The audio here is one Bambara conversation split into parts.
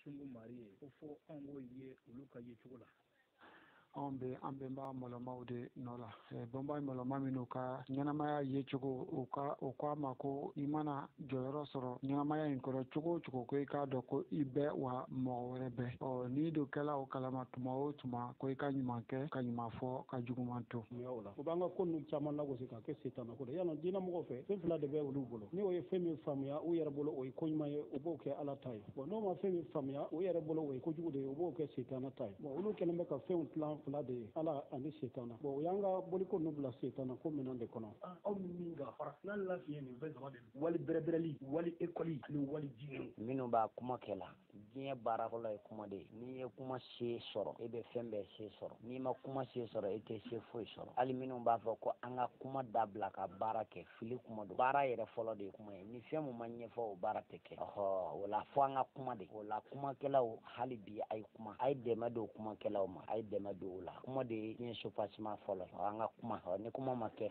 Sungu Mari ye, ko fo anw k'o ye olu ka yecogo la. Anw bɛ an bɛnba mɔlɔmaw de nɔ la. Bɛnba mɔlɔma minnu ka ɲɛnamaya yecogo, u ka o ko a ma ko i mana jɔyɔrɔ sɔrɔ ɲɛnamaya in kɔnɔ cogo o cogo, ko i k'a dɔn ko i bɛ wa mɔgɔ wɛrɛ bɛ. Ɔ n'i dun kɛla o kalama tuma o tuma, ko i ka ɲuman kɛ, ka ɲuman fɔ, ka juguman to. Mun y'a o la? O b'an ka ko ninnu caman lagosi ka. ka kɛ setana ko de y'a lɔn diinɛ mɔgɔw fɛ fɛn fila de bɛ olu bolo ni o ye fɛn min faamuya u yɛrɛ bolo o ye koɲuman ye u b'o kɛ ala ta ye bɔn n'o ma fɛn min faamuya u yɛrɛ bolo o ye kojugu de ye u b'o kɛ setana ta ye bɔn olu kɛlen bɛ ka fɛnw tilan fila de ye ala ani setana bɔn o y'an ka boliko ninnu bila setana ko minɛn de kɔnɔ aw ni min ka farafina lafiɲɛ nin fɛn saba de wali bɛrɛbɛrɛli wali ekɔli ani wali diinɛ minnu b'a kuma kɛ la diɲɛ baara fɔlɔ ye kuma de ye n'i ye kuma se sɔrɔ e bɛ fɛn bɛɛ se sɔrɔ n'i ma kuma se sɔrɔ e tɛ se foyi sɔrɔ hali minnu b'a fɔ ko an ka kuma dabila ka baara kɛ fili kuma don baara yɛrɛ fɔlɔ de ye kuma ye ni fɛn min ma ɲɛfɔ o baara tɛ kɛ ɔhɔ o la fo an ka kuma de o la kumakɛlaw hali bi a ye kuma a ye dɛmɛ don kumakɛlaw ma a ye dɛmɛ don o la kuma de ye diɲɛ soubassement fɔlɔ an ka kuma ni kuma ma kɛ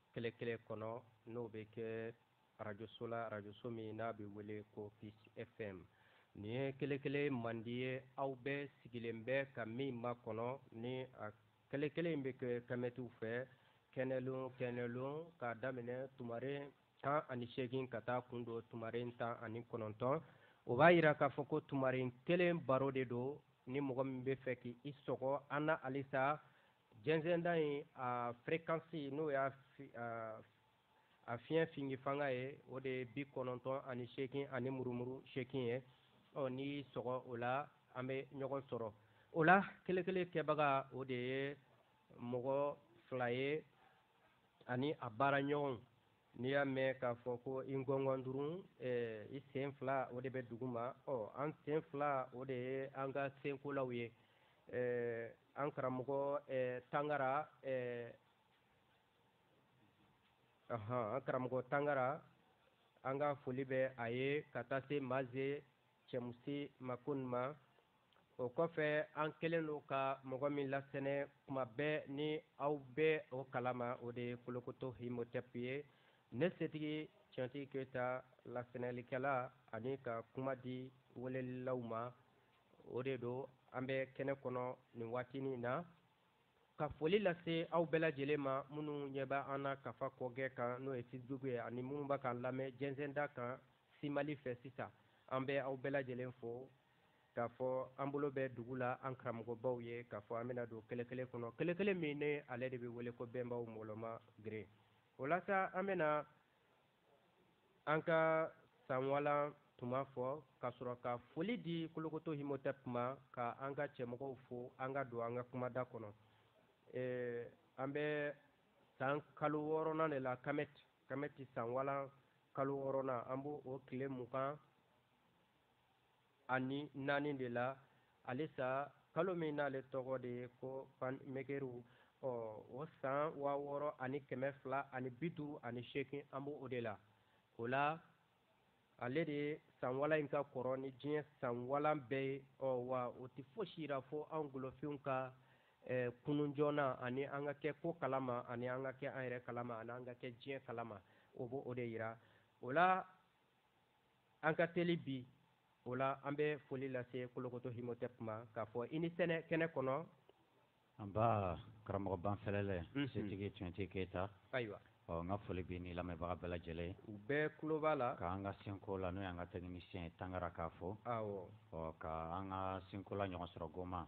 kelekele kɔnɔ n'o bɛ kɛ arajoso la arajoso min n'a bɛ wele ko peace fm nin ye kelekele mandi ye aw bɛɛ sigilen bɛ ka min makɔnɔ ni a kelekele in bɛ kɛ kamɛtiw fɛ kɛnɛlon kɛnɛlon k'a daminɛ tumaren tan ani seegin ka taa kun don tumaren tan ani kɔnɔntɔn o b'a yira k'a fɔ ko tumaren kelen baro de don ni mɔgɔ min bɛ fɛ k'i sɔgɔ an na halisa jɛnsɛnda in a fréquence n'o y'a a fiɲɛ fingi fanga ye o de ye bi kɔnɔntɔn ani seegin ani murumuru seegin ye ɔ n'i y'i sɔgɔ o la an bɛ ɲɔgɔn sɔrɔ o la kelekele kɛbaga o de ye mɔgɔ fila ye ani a baara ɲɔgɔnw n'i y'a mɛn k'a fɔ ko i ngɔngɔndurun eh, i sen fila o de bɛ dugu ma ɔ an sen fila o de ye an ka senkolaw ye eh, an karamɔgɔ eh, tangara an karamɔgɔ tangara an ka foli bɛ a ye ka taa se maze cɛmusi makun ma o kɔfɛ an kɛlen don ka mɔgɔ min lasɛnɛ kuma bɛɛ ni aw bɛ o kalama o de ye kolokoto himotep ye ne setigi cɛntigi keyita lasɛnɛlikɛla ani ka kuma di welelilaw ma o de don an bɛ kɛnɛ kɔnɔ nin waati nin na ka foli lase aw bɛɛ lajɛlen ma minnu ɲɛ bɛ an na kafa kɔgɛ kan n'o ye facebook ye ani minnu bɛ k'an lamɛn jɛnsɛnda kan simali fɛ sisan an bɛ aw bɛɛ lajɛlen fo k'a fɔ an bolo bɛ dugu la an karamɔgɔbaw ye k'a fɔ an bɛna don kelekele kɔnɔ kelekele min ne ale de bɛ wele ko bɛnbaw mɔlɔma geren o la sa an bɛna an ka sanwalan tuma fɔ ka sɔrɔ ka foli di kolokoto himotɛp ma ka an ka cɛmɔgɔw fo an ka don an ka kumada kɔnɔ an bɛ san kalo wɔɔrɔnan de la kamɛti kamɛti sanwalan kalo wɔɔrɔnan an b'o o tile mugan ani naani de la alisa kalo min n'ale tɔgɔ de ye ko pan mekeriw ɔ o san waa wɔɔrɔ ani kɛmɛ fila ani bi duuru ani seegin an b'o o de la o la ale de sanwalan in ka kɔrɔ ni diɲɛ sanwalan bɛɛ ye ɔ wa o tɛ fosi yira fo an golofinw ka kunun joona ani an ka kɛ ko kalama ani an ka kɛ an yɛrɛ kalama ani an ka kɛ diɲɛ kalama o b'o o de yira o la An ka teli bi, o la an bɛ foli lase Kolokoto Himotep ma k'a fɔ i ni sɛnɛ kɛnɛ kɔnɔ. Anbaa, karamɔgɔ banfɛlɛlɛ, setigi Tiyɔnte Keyita. Ayiwa. Ɔ, n ka foli b'i ni lamɛnbaga bɛɛ lajɛlen ye. U bɛɛ tulo b'a la. Ka an ka senkola, n'o y'an ka tɛkinisiyɛn ye Tangara k'a fo. Awɔ. Ɔ, ka an ka senkola Ɲɔgɔnsɔrɔ Goma.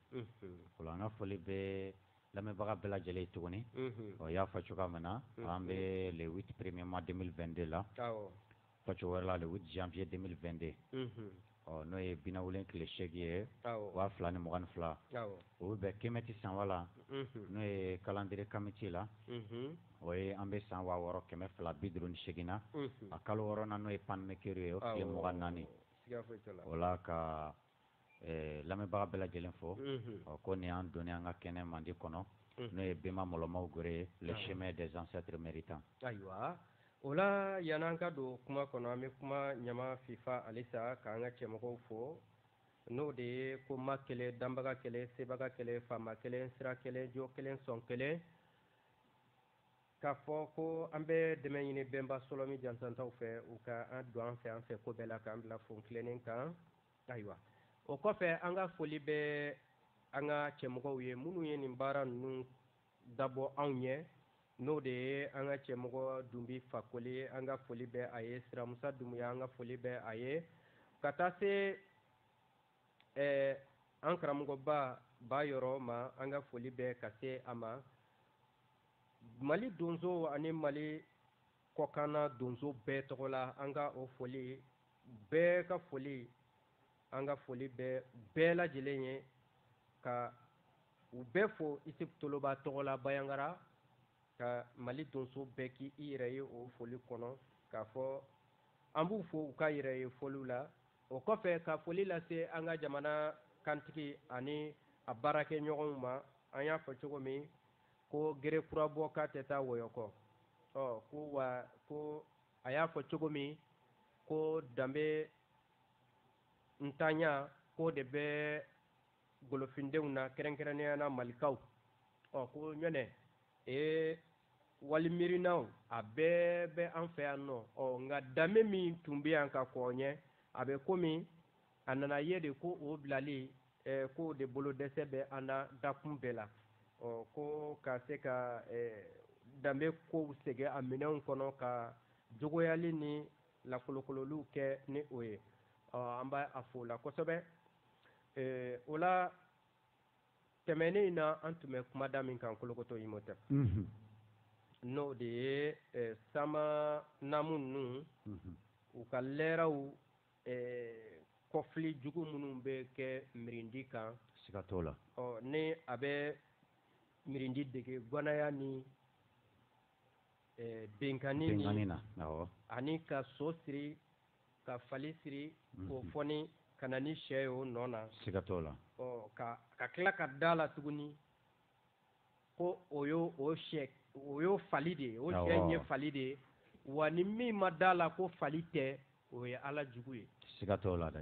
o la an ka foli bɛ lamɛnbaga bɛɛ lajɛlen ye tuguni o y'a fɔ cogoya min na an bɛ le huit premier mois deux mille vingt-deux la fɔcogo wɛrɛ la le huit janvier deux mille vingt-deux ɔ n'o ye binawulen tile seegin ye waa fila ni mugan ni fila o bɛ bɛn kɛmɛti sanwalan n'o ye calendrier kamiti la o ye an bɛ san waa wɔɔrɔ kɛmɛ fila bi duuru ni seegin na a kalo wɔɔrɔnan n'o ye panmɛkɛru ye o tile mugan ni naani o la ka lamɛnbaga bɛɛ lajɛlen fo ɔ ko nin y'an donnen y'an ka kɛnɛ mandi kɔnɔ n'o ye bɛnba mɔlɔmaw gere le chemin des ancêtres méritants ayiwa o la yan'an ka don kuma kɔnɔ an bɛ kuma ɲama fifa alisa k'an ka cɛmɔgɔw fo n'o de ye ko ma kelen danbaga kelen sebaga kelen faama kelen sira kelen jo kelen sɔn kelen K'a fɔ ko an bɛ dɛmɛ ɲini bɛnba sɔlɔmi jansantaw fɛ u ka an don an fɛ an fɛ ko bɛɛ la k'an bila fon tilennen kan ayiwa o kɔfɛ an ka foli bɛ an ka cɛmɔgɔw ye minnu ye nin baara ninnu dabɔ anw ɲɛ n'o de ye an ka cɛmɔgɔ dunbi fakoli ye an ka foli bɛ a ye siramusa dumuya an ka foli bɛ a ye ka taa se ɛɛ an karamɔgɔba bayɔrɔ ma an ka foli bɛ ka se a ma mali donso ani mali kɔkanna donso bɛɛ tɔgɔ la an ka o foli bɛɛ ka foli an ka foli bɛ bɛɛ lajɛlen ye ka u bɛɛ fo isuf toloba tɔgɔ la bayangara ka mali donso bɛɛ k'i yɛrɛ ye o foli kɔnɔ k'a fɔ an b'u fo u ka yɛrɛ ye foliw la o kɔfɛ ka foli lase an ka jamana kantigi ani a baarakɛ ɲɔgɔnw ma an y'a fɔ cogo min ko gere kura bɔ k'a tɛ taa wɔyɔkɔ ɔ ko wa ko a y'a fɔ cogo min ko danbentanya k'o de bɛ golofindenw na kɛrɛnkɛrɛnnenya na malikaw ɔ ko ɲɔnɛ ee walimiirinaw a bɛɛ bɛ an fɛ yan nɔ ɔ nka danbe min tun bɛ yan ka kɔn ɲɛ a bɛ komi a nana ye de ko o bilali eh, kɔ de bolodɛsɛ bɛ an na dakun bɛɛ la ɔ ko ka se ka eh, danbe kow segin a minɛnw kɔnɔ ka jogoyali ni lakolokololiw kɛ ni o ye ɔ an b'a fo o la kosɛbɛ ee o la tɛmɛnen in na an tun bɛ kumada min kan kolokoto imhotep n'o de ye sama namu ninnu u ka lɛraw kɔfili jugu minnu bɛ kɛ mirindi kan siga t'o la ɔ ni a bɛ mirindi dege ganaya ni binkanni na ani ka so siri ka fali siri k'o foni ka na ni shɛ ye o nɔ na siga t'o la ka ka tila ka da la tuguni ko o y'o o shɛ o y'o fali de ye o shɛ in ye fali de ye wa ni min ma da la ko fali tɛ o ye ala jugu ye siga t'o la dɛ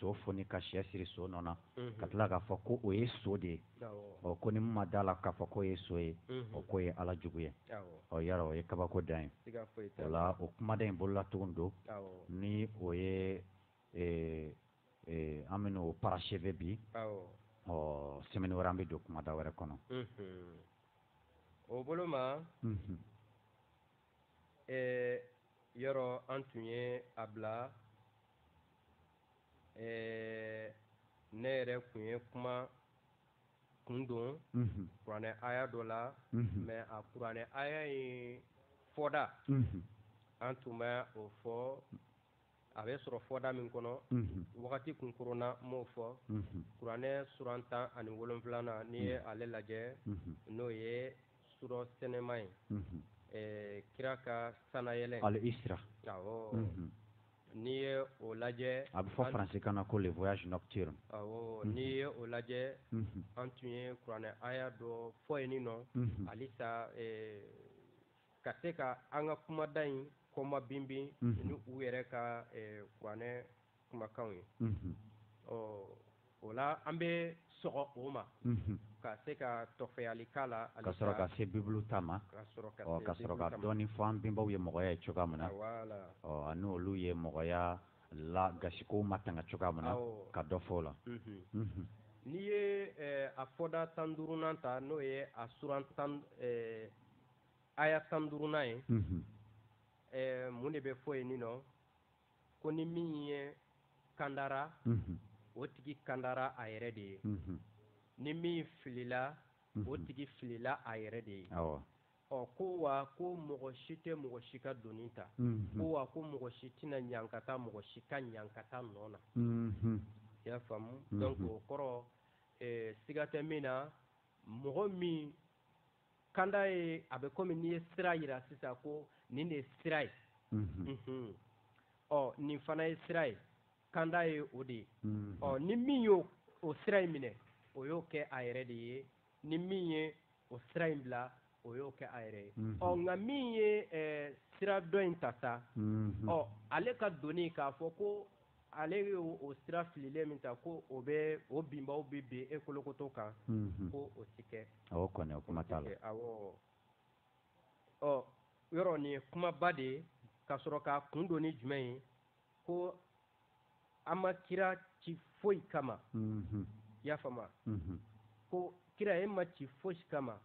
so foni ka shɛ siri so nɔ na ka tila k'a fɔ ko o ye so de ye ɔ ko ni min ma da la k'a fɔ k'o ye so ye o k'o ye ala jugu ye ɔ yɔrɔ o ye kabako dan ye o la o kumada in bolola tugun don ni o ye an bɛ n'o parachever bi ɔ semaine wɛrɛ an bɛ don kumada wɛrɛ kɔnɔ o bolo ma ee yɔrɔ an tun ye a bila ee ne yɛrɛ tun ye kuma kun don mhm. kuranɛ aya dɔ la mhm. mais a kuranɛ aya in fɔda mhm. an tun ma o fɔ a bɛ sɔrɔ fɔda min kɔnɔ wagati kunkurunna ma o fɔ kuranɛ suran tan ani wolonfilanan n'i ye ale lajɛ n'o ye surɔ sɛnɛma ye kira ka sanayɛlɛ al-isra n'i ye o lajɛ a bɛ fɔ faransikan na ko le voyage nocturne n'i ye o lajɛ an tun ye kuranɛ aya dɔ fɔ yen nin nɔ hali ka se ka an ka kumada in kɔma binbin ni u yɛrɛ ka kuranɛ kumakanw ye ɔ o la an bɛ sɔgɔ o ma ka se ka tɔfɛli k'a la ka sɔrɔ ka se bibulu ta ma ka sɔrɔ ka dɔɔnin fɔ an bɛnbaw ye mɔgɔya ye cogoya min na ɔ ani olu ye mɔgɔya la gasikow matanga cogoya min na ka dɔ fɔ o la n'i ye a fɔda tan duurunan ta n'o ye a suran tan aya tan duurunan ye mun de bɛ fɔ yen nin nɔ ko ni min ye kandara o tigi kandara a yɛrɛ de ye ni min filila o tigi filila a yɛrɛ de ye ɔ ko wa ko mɔgɔ si tɛ mɔgɔ si ka doni ta ko wa ko mɔgɔ si tɛna ɲankata mɔgɔ si ka ɲankata nɔ na i y'a faamu donc o kɔrɔ siga tɛ min na mɔgɔ min kanda ye a bɛ komi n'i ye sira yira sisan ko nin de ye sira ye ɔ nin fana ye sira ye kanda ye o de ye ɔ ni min y'o sira in minɛ o y'o kɛ a yɛrɛ de ye ni min ye o sira in bila o y'o kɛ a yɛrɛ ye ɔ nka min ye sira dɔ in ta sa ɔ ale ka doni k'a fɔ ko ale ye o sira fililen min ta ko o bɛ o binbaw bɛ bin e kolokoto kan ko o ti kɛ o kuma ɔ yɔrɔ nin ye kumaba de ye ka sɔrɔ k'a kun don ni jumɛn ye ko an ma kira ci foyi kama y'a faamu ko kira e ma ci foyi kama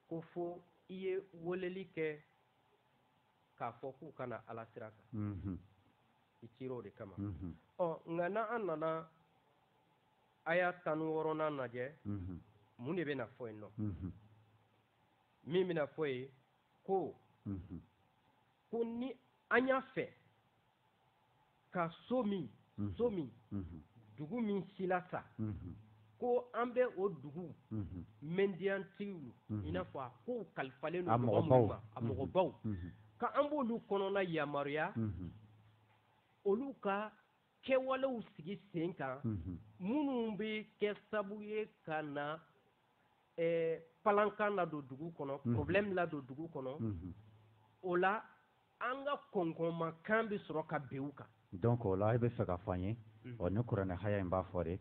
ko fo i ye weleli kɛ k'a fɔ k'u ka na alasira kan i cira o de kama ɔ nka n' an nana aya tan wɔɔrɔnan lajɛ mun de bɛna fɔ yen nɔ min bɛna fɔ yen ko ko ni an y'a fɛ ka so min so min dugu min silasa ko an bɛ o dugu mɛndiyantigiw i n'a fɔ a kow kalifalen don mɔgɔ minnu ma a mɔgɔbaw ka an b'olu kɔnɔna yamaruya olu ka kɛwalew sigi sen kan minnu bɛ kɛ sabu ye ka na palankan ladon dugu kɔnɔ problème ladon dugu kɔnɔ o la An ka kɔnkɔnma kan bɛ sɔrɔ ka bin u kan. Donc o la e bɛ fɛ ka fɔ an ye, ɔ ni kuranɛ haya in b'a fɔ de,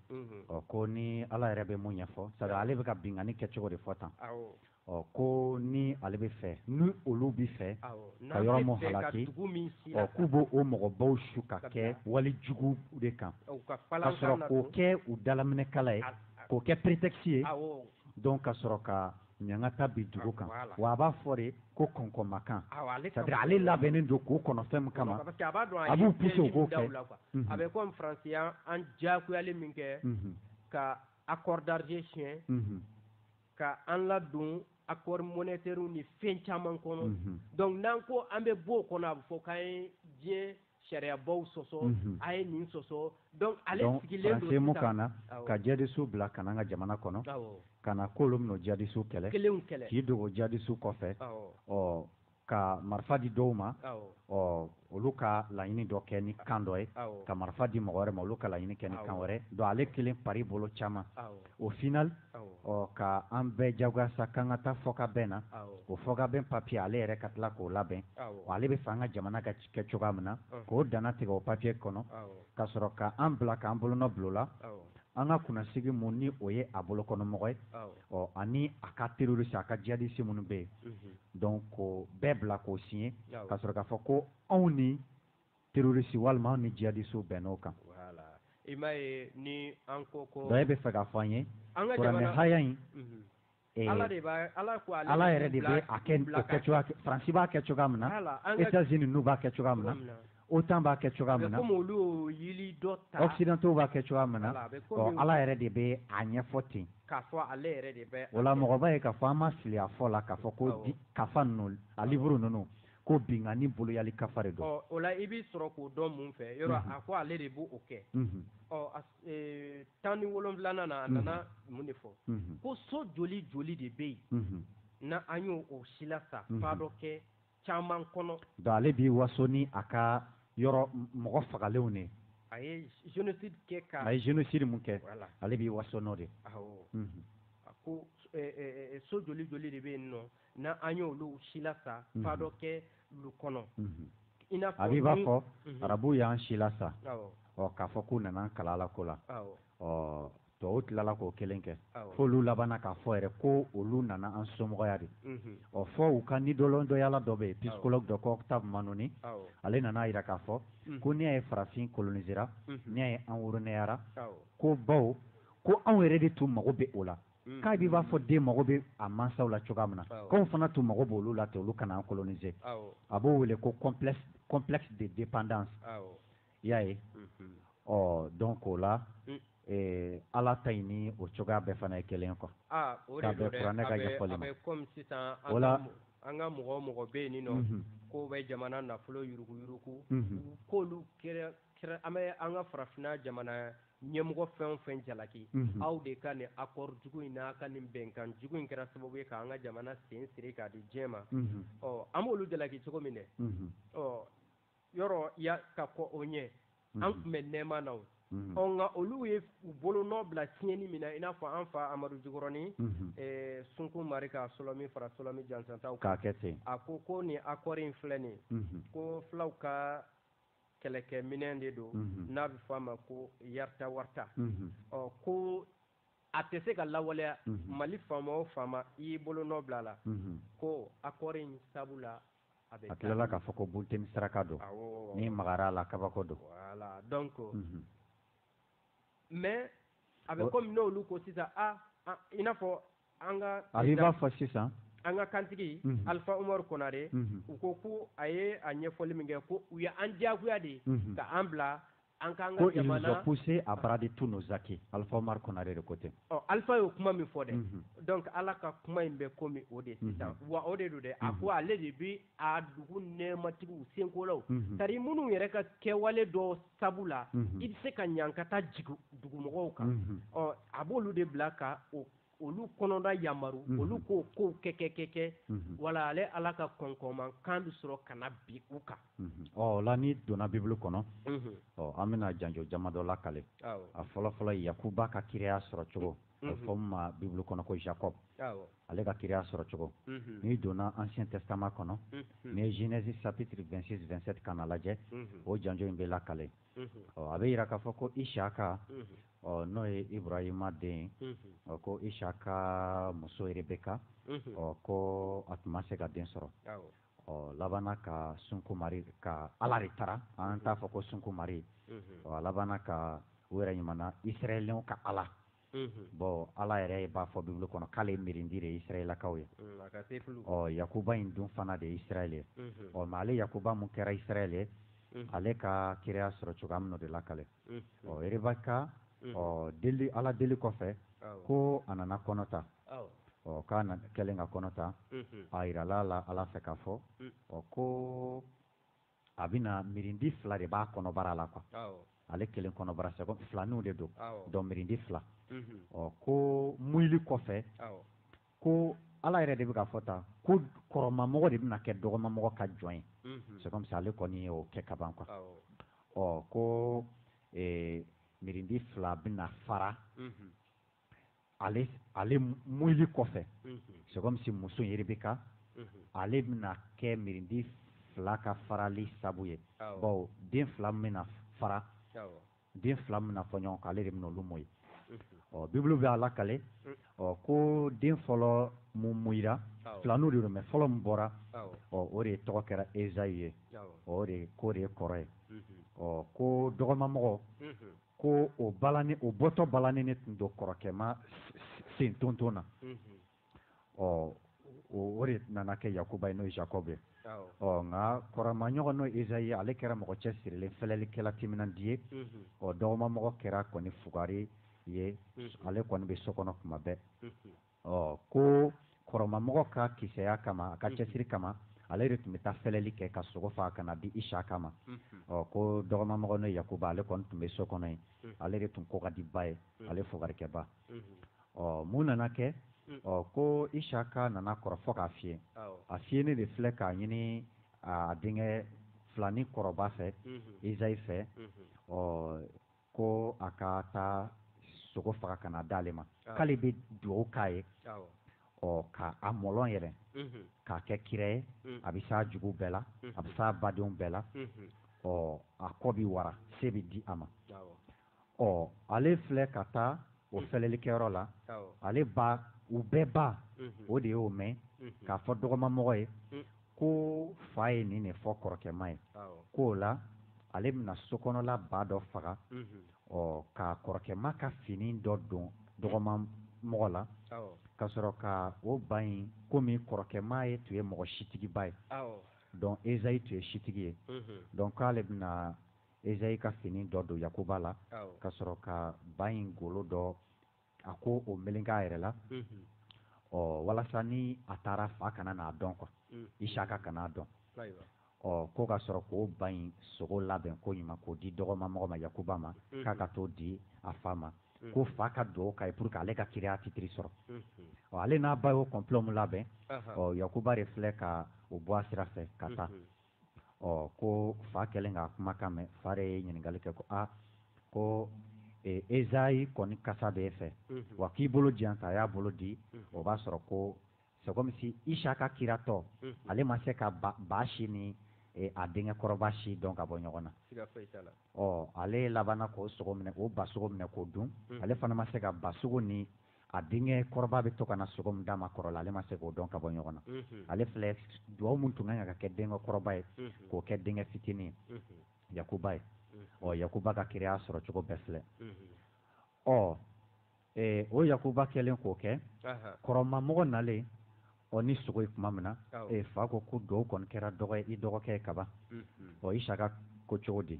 ɔ ko ni Ala yɛrɛ bɛ mun ɲɛfɔ, c'est à dire ale bɛ ka binkanni kɛcogo de fɔ tan, awɔ, ɔ ko ni ale bɛ fɛ, ni olu bɛ fɛ, awɔ, ka yɔrɔ min halaki, ɔ k'u b'o mɔgɔbaw su ka kɛwali jugu de kan, ka sɔrɔ k'o kɛ u dalaminɛkala ye, k'o kɛ prétexte ye, awɔ, donc ka sɔrɔ ka ɲangata bin dugu kan wa a b'a fɔ de ko kɔnkɔnmakan c'est à dire ale labɛnnen don k'o kɔnɔ fɛn min kama a b'u pousser u k'o kɛ a bɛ komi faransi ye an diyagoyali min kɛ ka accord d'Alger siɲɛ ka an ladon accord monétaire ni fɛn caman kɔnɔ donc n'an ko an bɛ bɔ o kɔnɔ a bɛ fɔ k'an ye diɲɛ sariyabaw sɔsɔ mhm. a ye nin sɔsɔ donc ale sigilen don sisan ka na ka jihadistew bila ka n'an ka jamana kɔnɔ ka na k'olu bɛna o jihadistew kɛlɛ k'i dogo jihadistew kɔfɛ ɔ ka marifa di dɔw ma ɔ olu ka laɲini dɔ kɛ ni kan dɔ ye ka marifa di mɔgɔ wɛrɛ ma olu ka laɲini kɛ ni kan wɛrɛ donc ale kelen par bolo caman au final ɔ ka an bɛɛ jagoya sa k'an ka taa fɔkabɛn na o fɔkabɛn papiye ale yɛrɛ ka tila k'o labɛn ale b'a fɛ an ka jamana ka ci kɛ cogoya min na k'o dannatigɛ o papiye kɔnɔ ka sɔrɔ k'an bila k'an bolonɔ bila o la an ka kunnasigi min ni o ye a bolokɔnɔmɔgɔ ye ɔ ani a ka terroriste a ka jihadiste minnu bɛ yen donc k'o bɛɛ bila k'o siɲɛ ka sɔrɔ k'a fɔ ko anw ni terroriste walima anw ni jihadiste bɛnn'o kan i bɛ fɛ ka fɔ an ye an ka ha in Eh, ala de b'a ala ko ale ala yɛrɛ de bɛ a kɛ o kɛ cogoya faransi b'a kɛ cogoya min na etazini n'u b'a kɛ cogoya min na OTAN b'a kɛ cogoya min na occidentaux b'a kɛ cogoya min na ɔ ala yɛrɛ de bɛ a ɲɛfɔ ten o la mɔgɔ b'a ye k'a fɔ an ma fili a fɔ la k'a fɔ ko di kafa ninnu a liburu ninnu ko binkanni boloyali kafa de don o la i b'i sɔrɔ k'o dɔn mun fɛ yɔrɔ a ko ale de b'o kɛ ee tan ni wolonwulanan na a nana mun de fɔ ko so joli joli de bɛ yen n' an y'o silasa fadɔkɛ caman kɔnɔ donc ale b'i waso ni a ka yɔrɔ mɔgɔ fagalenw de a ye génocide kɛ ka a ye génocide min kɛ ale b'i waso n'o de a ko so joli joli de bɛ yen nɔ n' an y' olu silasa fadɔkɛ lu kɔnɔ a b'i b'a fɔ arabuw y'an silasa ɔ k'a fɔ k'u nana an kalan alako la ɔ tɔw tilala k'o kelen kɛ fo olu laban k'a fɔ yɛrɛ ko olu nana an somɔgɔya de ɔ fɔ u ka nidɔlɔndɔyala dɔ bɛ yen psychologue dɔ ko Octave Mannoni ale nana a jira k'a fɔ ko n'i y'a ye farafin colonisera n'i y'a ye an woroneyara ko bawo ko anw yɛrɛ de tun mago bɛ o la mm. k'a b'i b'a fɔ den mago bɛ a mansaw la cogoya min na k'anw fana tun mago b'olu la ten olu ka na an coloniser a b'o wele ko complexe de dépendance i y'a ye mm-hmm. ɔ donc o la mm. eh, ala ta in ni o cogoya bɛɛ fana ye kelen quoi ah, k'a bɛn kuranɛ ka ɲɛfɔli ma o la an ka mɔgɔ o mɔgɔ bɛ yen nin nɔ mm-hmm. k'o bɛ jamana nafolo yuruguyurugu mm-hmm. k'olu kɛra an bɛ an ka farafinna jamana ɲɛmɔgɔ fɛn o fɛn jalaki aw de ka nin akɔri jugu in n'a ka nin bɛnkan jugu in kɛra sababu ye k'an ka jamana sen siri k'a di diɲɛ ma ɔ an b'olu jalaki cogo min dɛ ɔ yɔrɔ ya ka kɔ o ɲɛ an tun bɛ nɛɛma na o ɔ nka olu ye u bolo nɔ bila tiɲɛni min na i n'a fɔ an fa amadu jikɔrɔni sunkun mari ka solɔmi fara solɔmi jansantaw k'a kɛ ten a ko ko nin akɔri in filɛ nin ko fulaw ka kɛlɛkɛminɛn de don n'a bɛ fɔ a ma ko yarta warta ɔ ko a tɛ se ka lawaleya mali faama o faama i y'i bolo nɔ bila a la ko akɔri in sabu la a bɛ tilala k'a fɔ ko bunteni saraka don n'i magara a la kabako don donc mais a bɛ komi n'olu ko sisan aa i n'a fɔ an ka a b'i b'a fɔ sisan an ka kantigi mhm. alifa umaru konare mhm. u ko ko a ye a ɲɛfɔli min kɛ ko u ye an diyagoya de mhm. ka an bila an k'an ka jamana ko ils ont poussé à brader tous nos acquis alifa umaru konare de ko ten ɔ alifa y'o kuma min fɔ dɛ donc ala ka kuma in bɛ komi o de sisan wa o de don dɛ a ko ale de bi a dugu nɛɛmatigiw senkolaw tari minnu yɛrɛ ka kɛwale dɔ sabu la i bɛ se ka ɲankata jigin dugumɔgɔw kan ɔ a b'olu de bila ka o olu kɔnɔna yamaru mhm. olu k'o kow kɛ kɛ kɛ kɛ mhm. wala ale ala ka kɔnkɔnman kan bɛ sɔrɔ ka na bin u kan mhm. o la n'i donna bibulu kɔnɔ ɔ an bɛna janjo jama dɔ lakale a fɔlɔfɔlɔ yakuba ka kiraya sɔrɔ cogo a bɛ fɔ min ma bibulu kɔnɔ ko jacob ale ka kiraya sɔrɔ cogo n'i donna ancien testament kɔnɔ n'i ye genèse chapitre 26 27 kana lajɛ o janjo in bɛ lakale ɔ a bɛ jira k'a fɔ ko isaka ɔ n'o ye iburahima den ɔ ko isaka muso rebeka ɔ ko a tun ma se ka den sɔrɔ ɔ labanna ka sunkumari ka ala de tara an t'a fɔ ko sunkumari a labanna ka u yɛrɛ ɲuman israɛlɛnw ka ala bɔn ala yɛrɛ b'a fɔ bibulu kɔnɔ k'ale ye mirindi de ye isirayɛlakaw ye ɔ yakuba in dun fana de ye isirayɛlɛ ye ɔ mais ale yakuba min kɛra isirayɛlɛ ye ale ka kiraya sɔrɔ cogoya min de lakale ɔ rebeka ɔ deli ala deli kɔfɛ ko a nana kɔnɔ ta ɔ k'a na kɛlen ka kɔnɔ ta a jirala a la ala fɛ k'a fɔ ɔ ko a bɛna mirindi fila de b'a kɔnɔbara la quoi ale kelen kɔnɔbara c'est filaninw de don donc mirindi fila mhm. ɔ ko muyili kɔfɛ ko ala yɛrɛ de bɛ k'a fɔ ta ko kɔrɔmamɔgɔ de bɛna kɛ dɔgɔmamɔgɔ ka jɔn ye mhm. c'est comme ça ale kɔni ye o kɛ kaban quoi ɔ ko mirindi fila bɛna fara mhm. ale ale muyili kɔfɛ c'est comme si muso in rebeka ale bɛna kɛ mirindi fila ka farali sabu ye bawo den fila min bɛna fara den fila min bɛna fɔ ɲɔgɔn kɔ ale de bɛna olu muyi ɔ bibulu bɛ a lakale ɔ ko den fɔlɔ min muyira filaninw de mais fɔlɔ min bɔra ɔ o de tɔgɔ kɛra ezayi ye k'o de ye kɔrɔ ye ɔ ko dɔgɔmamɔgɔ ko o balani o bɔtɔ balani ne tun don kɔrɔkɛma sen tonton na ɔ o de nana kɛ yakuba ye n'o ye jacob ye ɔ nka kɔrɔma ɲɔgɔn n'o ezayi ye ale kɛra mɔgɔ cɛsirilen fɛlɛlikɛla timinandi ye ɔ dɔgɔma mɔgɔ kɛra kɔni fugari ye ale kɔni bɛ so kɔnɔ kuma bɛɛ ɔ ko kɔrɔmamɔgɔ ka kisɛya kama a ka mhm. cɛsiri kama ale de tun bɛ taa fɛlɛli kɛ ka sogo faga ka na di isaka ma mhm. ɔ ko dɔgɔmamɔgɔ n'o yakuba ale kɔni tun bɛ so kɔnɔ yen mhm. ale de tun ko ka di ba ye ale fugarikɛba ɔ mun nana kɛ ɔ ko isaka nana kɔrɔ fɔ k'a fiyɛ a fiyɛni de filɛ k'a ɲini a denkɛ filani kɔrɔba fɛ ezayi fɛ ɔ ko a ka taa sogo faga ka na d'ale ma k'ale bɛ dugawu k'a ye ɔ ka a mɔlɔn yɛrɛ k'a kɛ kira ye a bɛ s'a jugu bɛɛ la a bɛ s'a badenw bɛɛ la ɔ a kɔ bɛ wara se bɛ di a ma ɔ ale filɛ ka taa o fɛlɛlikɛyɔrɔ la ale ba u bɛɛ ba o de y'o mɛn k'a fɔ dɔgɔmamɔgɔ ye ko fa ye nin de fɔ kɔrɔkɛma ye k'o la ale bɛna sokɔnɔla ba dɔ faga ɔ ka kɔrɔkɛma ka fini dɔ don dɔgɔma mɔgɔ la ka sɔrɔ ka o ba in komi kɔrɔkɛma ye tun ye mɔgɔ sitigiba ye donc ezayi tun ye sitigi ye donc k'ale bɛna Ezayi ka fini dɔ don Yakuba la, ka sɔrɔ ka ba in golo dɔ, a ko o meleke a yɛrɛ la, ɔ walasa ni a taara fa kana n'a dɔn quoi, Isaka kana a dɔn, ɔ ko ka sɔrɔ k'o ba in sogo labɛn ko ɲuman k'o di dɔgɔmamɔgɔ ma Yakuba ma, k'a ka t'o di a fa ma, ko fa ka dugawu k'a ye pour que ale ka kiraya titiri sɔrɔ, ɔ ale n'a ba y'o complot min labɛn, ɔ Yakuba de filɛ ka o bɔ a sira fɛ ka taa. ɔ ko fa kɛlen k'a kumakan mɛn fa de ye ɲininkali kɛ ko aa ko ezayi kɔni kasa bɛ e fɛ wa k'i bolo di yan ta a y'a bolo di o b'a sɔrɔ ko c'est comme si isaka kiratɔ ale ma se ka ba si ni a denkɛ kɔrɔba si dɔn ka bɔ ɲɔgɔn na ɔ ale labanna k'o sogo minɛ k'o ba sogo minɛ k'o dun ale fana ma se ka ba sogo ni a denkɛ kɔrɔba bɛ to ka na sogo min d'a ma kɔrɔ la ale ma se k'o dɔn ka bɔ ɲɔgɔn na ale filɛ dugawu min tun kan ka kɛ denkɛ kɔrɔba ye k'o kɛ denkɛ fitinin ye yakuba ye ɔ yakuba ka kiraya sɔrɔ cogo bɛɛ filɛ ɔ o yakuba kɛlen k'o kɛ kɔrɔmamɔgɔ nalen ɔ ni sogo ye tuma min na e fa ko ko dugawu kɔni kɛra dɔgɔ i dɔgɔkɛ ye kaban ɔ isaka ko cogo di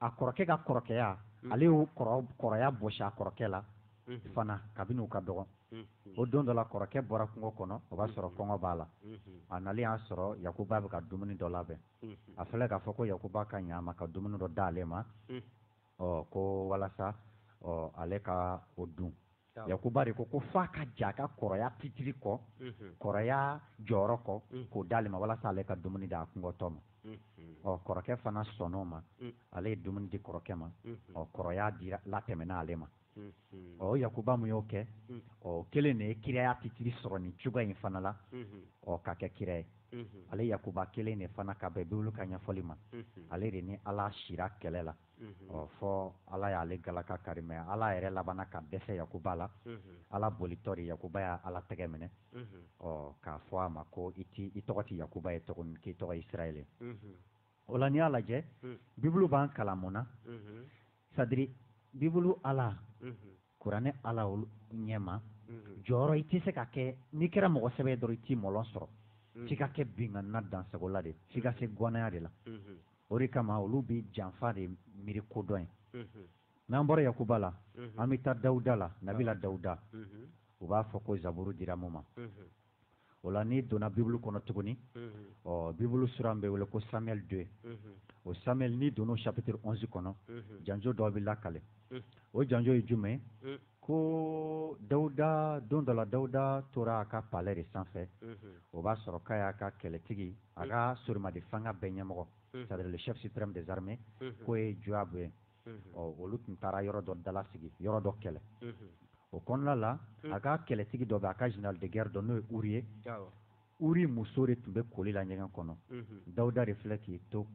a kɔrɔkɛ ka kɔrɔkɛya mm. ale y'o kɔrɔya bɔsi a kɔrɔkɛ la mm-hmm. fana kabini u ka dɔgɔn mm-hmm. o don dɔ la kɔrɔkɛ bɔra kungo kɔnɔ o b'a sɔrɔ mm-hmm. kɔngɔ b'a la a nalen y'a sɔrɔ yakuba bɛ ka dumuni dɔ labɛn a filɛ k'a fɔ ko yakuba ka ɲa a ma ka dumuni dɔ d'ale ma ɔ ko walasa ɔ ale ka o dun yakuba de ko ko f'a ka jɛn a ka kɔrɔya titiri kɔ kɔrɔya jɔyɔrɔ kɔ k'o d'ale ma walasa ale ka dumuni d'a kɔngɔtɔ ma ɔ kɔrɔkɛ fana sɔnn'o ma ale ye dumuni di kɔrɔkɛ ma ɔ kɔrɔya dira latɛmɛna ale ma ɔ yakuba mun y'o kɛ ɔ kelen de ye kiraya titiri sɔrɔ nin cogoya in fana la ɔ ka kɛ kira ye ale yakuba kelen de fana ka bɛn bibulu ka ɲɛfɔli ma ale de ni ala sira kɛlɛ la ɔ fɔ ala y'ale galaka kari mɛ ala yɛrɛ labanna ka dɛsɛ yakuba la ala bolitɔ de yakuba y'a ala tɛgɛ minɛ ɔ k'a fɔ a ma ko i t i tɔgɔ tɛ yakuba ye tuguni k'i tɔgɔ ye israɛl ye o la n'i y'a lajɛ bibulu b'an kalan mun na c'est-à-dire bibulu ala kuranɛ ala ɲɛma jɔyɔrɔ i tɛ se ka kɛ n'i kɛra mɔgɔ sɛbɛ dɔrɔn i t'i mɔlɔ sɔrɔ f'i ka kɛ binkanna dansagola de f'i ka se gɔnɛya de la o de kama olu bɛ janfa de miiri kodɔn ye n'an bɔra yakuba la an bɛ taa dawuda la nabila dawuda u b'a fɔ ko zaburu dira mun ma o la n'i donna bibulu kɔnɔ tuguni ɔ bibulu suran bɛ wele ko samuel deux o samuel n'i donna chapitre onze kɔnɔ janjo dɔ bɛ lakale o janjo ye jumɛn ko dawuda don dɔ la dawuda tora a ka palais de sanfɛ o b'a sɔrɔ k'a y'a ka kɛlɛtigi a ka sorimadi fanga bɛɛ ɲɛmɔgɔ c'est-à-dire le chef suprême des armées k'o ye joab ye ɔ olu tun taara yɔrɔ dɔ dala sigi yɔrɔ dɔ kɛlɛ o kɔnɔna la a ka kɛlɛtigi dɔ bɛ a ka général de guerre dɔ n'o ye uri ye uri muso de tun bɛ koli la ɲɛgɛn kɔnɔ dawuda de filɛ k'i to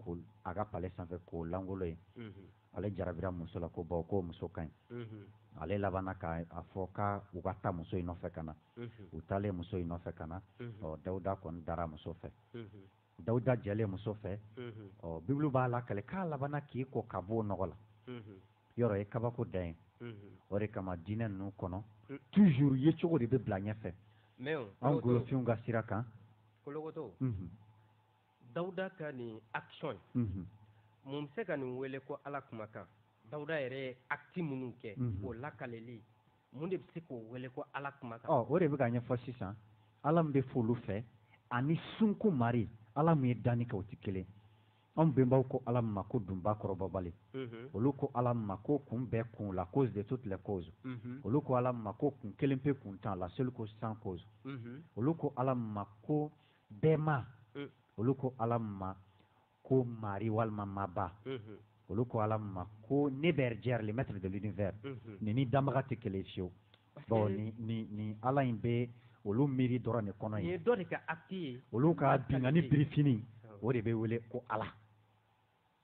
a ka palais sanfɛ k'o langolo ye ale jarabira muso la ko baw ko muso ka ɲi ale labanna ka a fɔ ka u ka taa muso in nɔfɛ ka na u taalen muso in nɔfɛ ka na ɔ dawuda kɔni dara muso fɛ dawuda jɛlen muso fɛ ɔ bibulu b'a lakale k'a labanna k'i ko ka bɔ o nɔgɔ la yɔrɔ ye kabako dan ye o de kama diinɛ ninnu kɔnɔ toujours ye cogo de bɛ bila ɲɛfɛ an golofinw ka sira kan Dawuda ka nin action in mun bɛ se ka nin wele ko Ala kumakan Dawuda yɛrɛ ye acte minnu kɛ o lakaleli mun de bɛ se k'o wele ko Ala kumakan ɔ o de bɛ ka ɲɛfɔ sisan Ala min bɛ f'olu fɛ ani sunko mari Ala min ye danni kɛ o tɛ kelen anw bɛnbaw ko Ala min ma ko dunba kɔrɔbɔbali olu ko Ala min ma ko kun bɛɛ kun la cause de toutes les causes olu ko Ala min ma ko kun kelen pe kuntan la seule cause sans cause olu ko Ala min ma ko bɛɛ ma mm. olu ko ala ma ko mari walima maba mm-hmm. olu ko ala ma ko neberjɛri le maître de l'univers mm-hmm. nin ni danbaga tɛ kelen fiyewu bon ni ni ni ala in bɛ olu miiri dɔrɔn de kɔnɔ ye olu ka binkanni birifini o de bɛ wele ko ala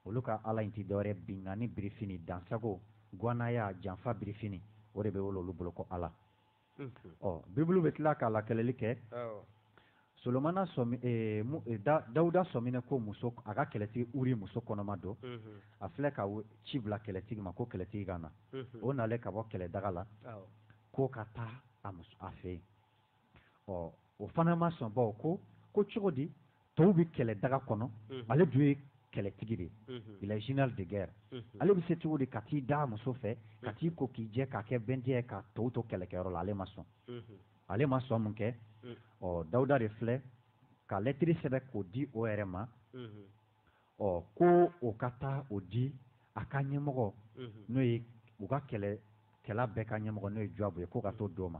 olu ka ala in tɛ dɔwɛrɛ binkanni birifini dansago gwanaya janfa birifini o de bɛ wele olu bolo ko ala ɔ bibulu bɛ tila k'a lakaleli kɛ solomana dawuda sɔmina ko muso a ka kɛlɛtigi uri muso kɔnɔma don a filɛ ka ci bila kɛlɛtigi ma ko kɛlɛtigi ka na o nalen ka bɔ kɛlɛ daga la k'o ka taa a muso a fɛ yen ɔ o fana ma sɔn bawo ko cogo di tɔw bɛ kɛlɛ daga kɔnɔ ale dun ye kɛlɛtigi de ye il est général de guerre ale bɛ se cogo di ka t'i da muso fɛ ka t'i ko k'i jɛ k'a kɛ bɛntɛ ye ka tɔw to kɛlɛkɛyɔrɔ la ale ma sɔn ale ma sɔn mun kɛ ɔ Dawuda de filɛ ka lɛtiri sɛbɛn k'o di o yɛrɛ ma ɔ ko o ka taa o di a ka ɲɛmɔgɔ n'o ye u ka kɛlɛkɛla bɛɛ ka ɲɛmɔgɔ n'o ye Joab ye ko ka t'o d'o ma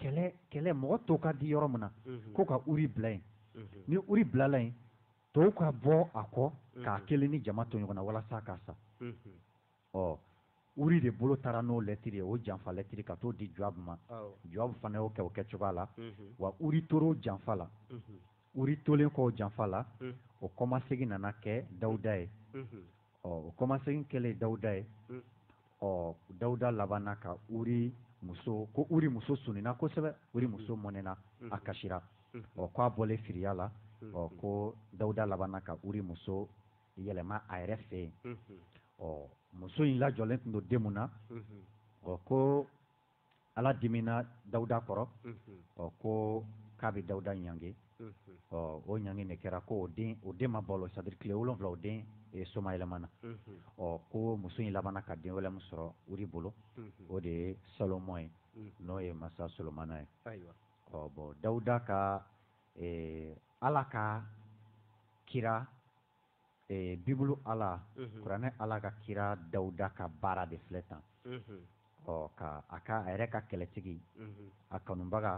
kɛlɛ kɛlɛ mɔgɔ to ka di yɔrɔ min na mhm. ko ka uri bila yen mhm. ni uri bilala yen tɔw ka bɔ a kɔ mhm. k'a kelen ni jama to ɲɔgɔn na walasa ka sa ɔ uri de bolo taara n'o lɛtiri ye o janfa lɛtiri ka t'o di jɔabu ma jɔabu fana y'o kɛ o kɛ cogoya la wa uri tor'o janfa la uri tolen kɔ o janfa la o kɔmasegin nana kɛ dawuda ye ɔ o kɔmasegin kɛlen dawuda ye ɔ dawuda labanna ka uri muso ko uri muso sunina kosɛbɛ uri muso mɔnɛna a kasira ɔ k'a bɔlen firiya la ɔ ko dawuda labanna ka uri muso yɛlɛma a yɛrɛ fɛ yen ɔ muso in lajɔlen tun don den min na ɔ ko ala dimina dawuda kɔrɔ ɔ ko k'a bɛ dawuda ɲange ɔ o ɲange de kɛra ko o den o den ma balo c'est-à-dire tile wolonwula o den e, somayɛlɛmana ɔ ko muso in labanna ka den wɛrɛ min sɔrɔ uri bolo o de ye salomɔn ye n'o ye masa solomana ye ɔ bon dawuda ka e, ala ka kira ee bibulu ala kuranɛ ala ka kira dawuda ka baara de filɛ tan ɔ ka a ka a yɛrɛ ka kɛlɛtigi a kanubaga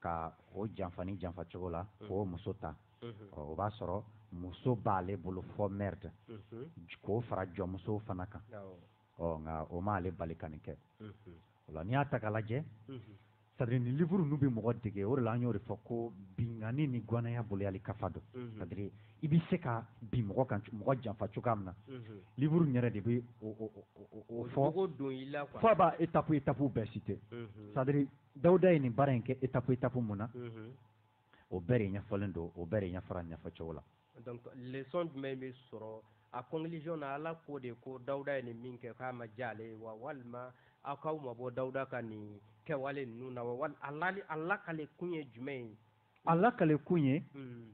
ka o janfa ni janfa cogo la k'o muso ta ɔ o b'a sɔrɔ muso b'ale bolo fɔ merde k'o fara jɔnmusow fana kan ɔ nka o m'ale bali ka nin kɛ o la n'i y'a ta k'a lajɛ c'est-à-dire ni livre ninnu bɛ mɔgɔ dege o de la an y'o de fɔ ko binkanni ni gwanaya boloyali kafa don c'est-à-dire i bɛ se ka bin mɔgɔ kan mɔgɔ janfa cogoya min na livre in yɛrɛ de bɛ o fɔ fo a b'a étape étape bɛɛ citer c'est-à-dire dawuda ye nin baara in kɛ étape étape mun na o bɛɛ de ɲɛfɔlen don o bɛɛ de ɲɛfɔra ɲɛfɔcogo la donc leçon jumɛn bɛ sɔrɔ a conclusion na ala ko de ko dawuda ye nin min kɛ k'a ma diya ale ye wa walima aw k'aw mabɔ dawuda ka nin kɛwale ninnu na wa wali a lakale kun ye jumɛn ye a lakale kun ye hmm.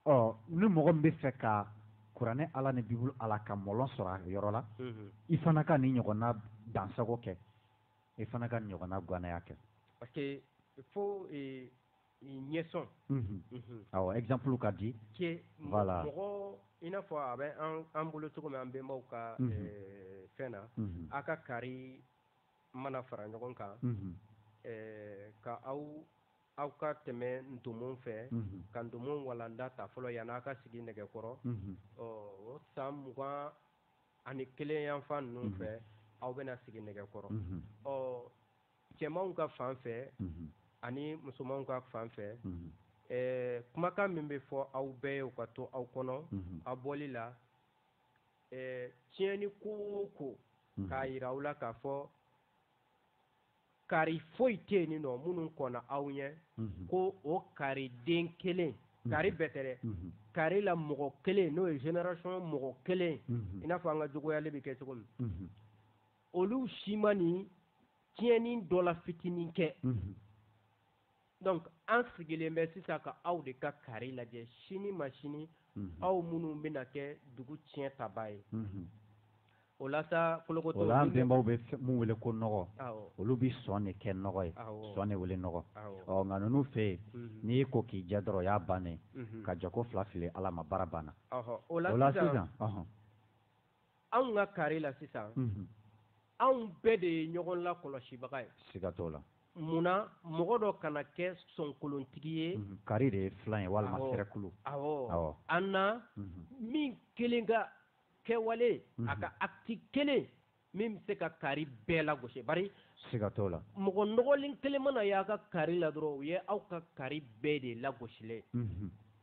ɔ ni mɔgɔ min bɛ fɛ ka kuranɛ ala ni bibulu ala ka mɔlɔn sɔrɔ a yɔrɔ la hmm. i fana ka nin ɲɔgɔnna dansago kɛ i fana ka nin ɲɔgɔnna gwanaya kɛ parce que fo eh, ɲɛsɔn awɔ exemple ka di voilà mɔgɔ i n'a fɔ a bɛ an bolo cogo min an bɛnbaw ka fɛn na a ka kari mana fara ɲɔgɔn kan ka aw aw ka tɛmɛ ntomo fɛ ka ntomo walanda ta fɔlɔ yani a ka sigi nɛgɛ kɔrɔ ɔ o san mugan ani kelen yanfan ninnu fɛ aw bɛna sigi nɛgɛ kɔrɔ ɔ cɛmanw ka fan fɛ ani musomanw ka fan fɛ kumakan min bɛ fɔ aw bɛɛ ye o ka to aw kɔnɔ a bɔli la tiɲɛni ko o ko k'a yira aw la k'a fɔ kari foyi tɛ yen nin nɔ minnu kɔnna aw ɲɛ ko o kari den kelen kari bɛɛ tɛ dɛ kari la mɔgɔ kelen n'o ye génération mɔgɔ kelen i n'a fɔ an ka jogoyali bɛ kɛ cogo min olu si ma nin tiɲɛni dɔ la fitinin kɛ donc an sigilen bɛ sisan ka aw de ka kari lajɛ sini ma sini aw minnu bɛna kɛ dugu tiɲɛ tabaa ye o la sa bolokotɔ o la an bɛnbaw bɛ mun wele ko nɔgɔ olu bɛ sɔn de kɛ nɔgɔ ye sɔn de wele nɔgɔ ɔ nka ninnu fɛ yen n'i y'i ko k'i jɛ dɔrɔn o y'a bannen ka jako fila fili ala ma baara banna o la sisan anw ka kari la sisan anw bɛɛ de ye ɲɔgɔn lakɔlɔsibaga ye siga t'o la mun na mɔgɔ dɔ kana kɛ sɔnkolontigi ye mhm. kari de ye filan ye walima sɛrɛkulu awɔ an na mhm. min kelen ka kɛwale a mhm. ka acte kelen min bɛ se ka kari bɛɛ lagosi bari siga t'o la mɔgɔ nɔgɔlen kelen mana y'aw ka kari la dɔrɔn o ye aw ka kari bɛɛ de lagosilen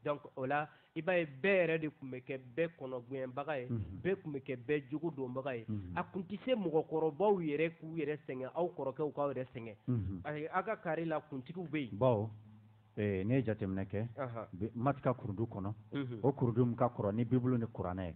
donc o la i b'a ye bɛɛ yɛrɛ de tun bɛ kɛ bɛɛ kɔnɔgɛnbaga ye bɛɛ tun bɛ kɛ bɛɛ jogo donbaga ye a tun tɛ se mɔgɔkɔrɔbaw yɛrɛ k'u yɛrɛ sɛgɛn aw kɔrɔkɛw k'aw yɛrɛ sɛgɛn ayi aw ka kari la kuntigiw bɛ yen bɔn ne ye jateminɛ kɛ maati ka kurundu kɔnɔ o kurundu min ka kɔrɔ ni bibulu ni kuranɛ ye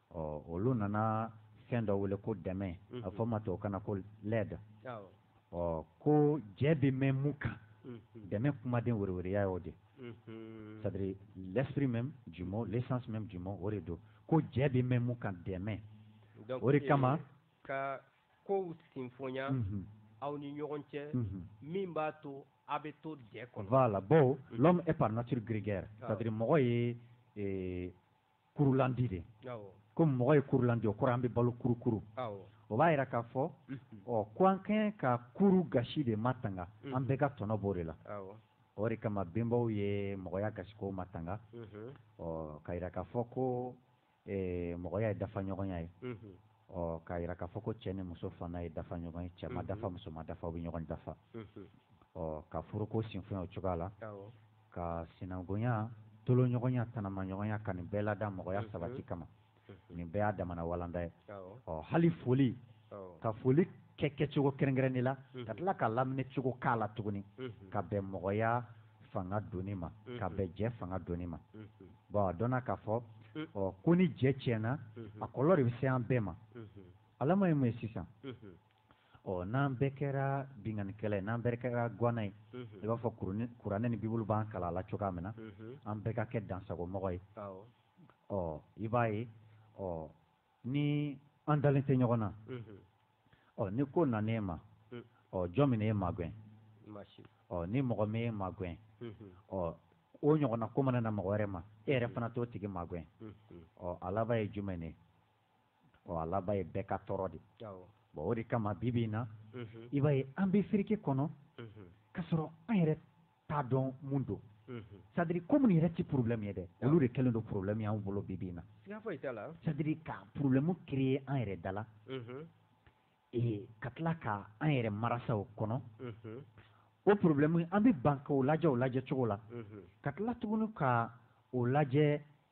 ɔ olu nana fɛn dɔ wele ko dɛmɛ a fɔ ma tubabukan na ko l'aide ɔ ko jɛ bɛ mɛn mun kan dɛmɛ kumaden wɛrɛwɛrɛya y'o de c'est-à-dire l'esprit même du mot l'essence même du mot o de don ko jɛ bɛ mɛn mun kan dɛmɛ o de kama ka kow sinfonya aw ni ɲɔgɔn cɛ min b'a to aw bɛ to jɛ kɔnɔ voilà bon l'homme est par nature grégaire c'est-à-dire mɔgɔ ye kurulandi de ko mɔgɔ ye kurulandi o kɔrɔ an bɛ balo kurukuru o b'a yira k'a fɔ ɔ ko an ka kan ka kuru gasi de matanga an bɛɛ ka tɔnɔ b'o de la o de kama bɛnbaw ye mɔgɔya gasikow matanga ɔ k'a jira k'a fɔ ko mɔgɔya ye dafaɲɔgɔnya ye ɔ k'a jira k'a fɔ ko cɛ ni muso fana ye dafaɲɔgɔn ye cɛ ma dafa muso ma dafa u bɛ ɲɔgɔn dafa ɔ ka furuko sinfonya o cogoya la ka sinankunya tolonɲɔgɔnya tanamaɲɔgɔnya ka nin bɛɛ lada mɔgɔya mhm. sabati kama mhm. nin bɛɛ y'a damana walanda ye ɔ hali foli ka foli kɛ kɛcogo kɛrɛnkɛrɛnnen la mhm. ka tila k'a laminɛ cogo k'a la tuguni ka bɛn mɔgɔya fanga donni ma ka bɛn jɛ fanga donni ma bɔn a dɔnna k'a fɔ ɔ ko ni jɛ tiɲɛna a kɔlɔlɔ de bɛ se an bɛɛ ma a laban ye mun ye sisan ɔ n'an bɛɛ kɛra binkannikɛla ye n'an bɛɛ kɛra guwana ye i b'a fɔ kuranɛ ni bibulu b'an kalan a la cogoya min na an bɛɛ ka kɛ dansagomɔgɔ ye ɔ i b'a ye ɔ ni an dalen tɛ ɲɔgɔn na ɔ ni ko nan'e ma ɔ jɔn bɛna e magɛn ɔ ni mɔgɔ ma e magɛn ɔ o ɲɔgɔnna ko mana na mɔgɔ wɛrɛ ma e yɛrɛ fana t'o tigi magɛn ɔ a laban ye jumɛn ye ɔ a laban ye bɛɛ ka tɔɔrɔ de bon o de kama bi bi in na i b'a ye an bɛ fereke kɔnɔ ka sɔrɔ an yɛrɛ t'a dɔn mun don c'est-à-dire ko minnu yɛrɛ tɛ porobilɛmu ye dɛ olu de kɛlen don porobilɛmu y'an bolo bi bi in na c'est-à-dire ka porobilɛmu créer an yɛrɛ da la ee ka tila ka an yɛrɛ marasa o kɔnɔ o porobilɛmu an bɛ ban ka o lajɛ o lajɛ cogo la ka tila tuguni ka o lajɛ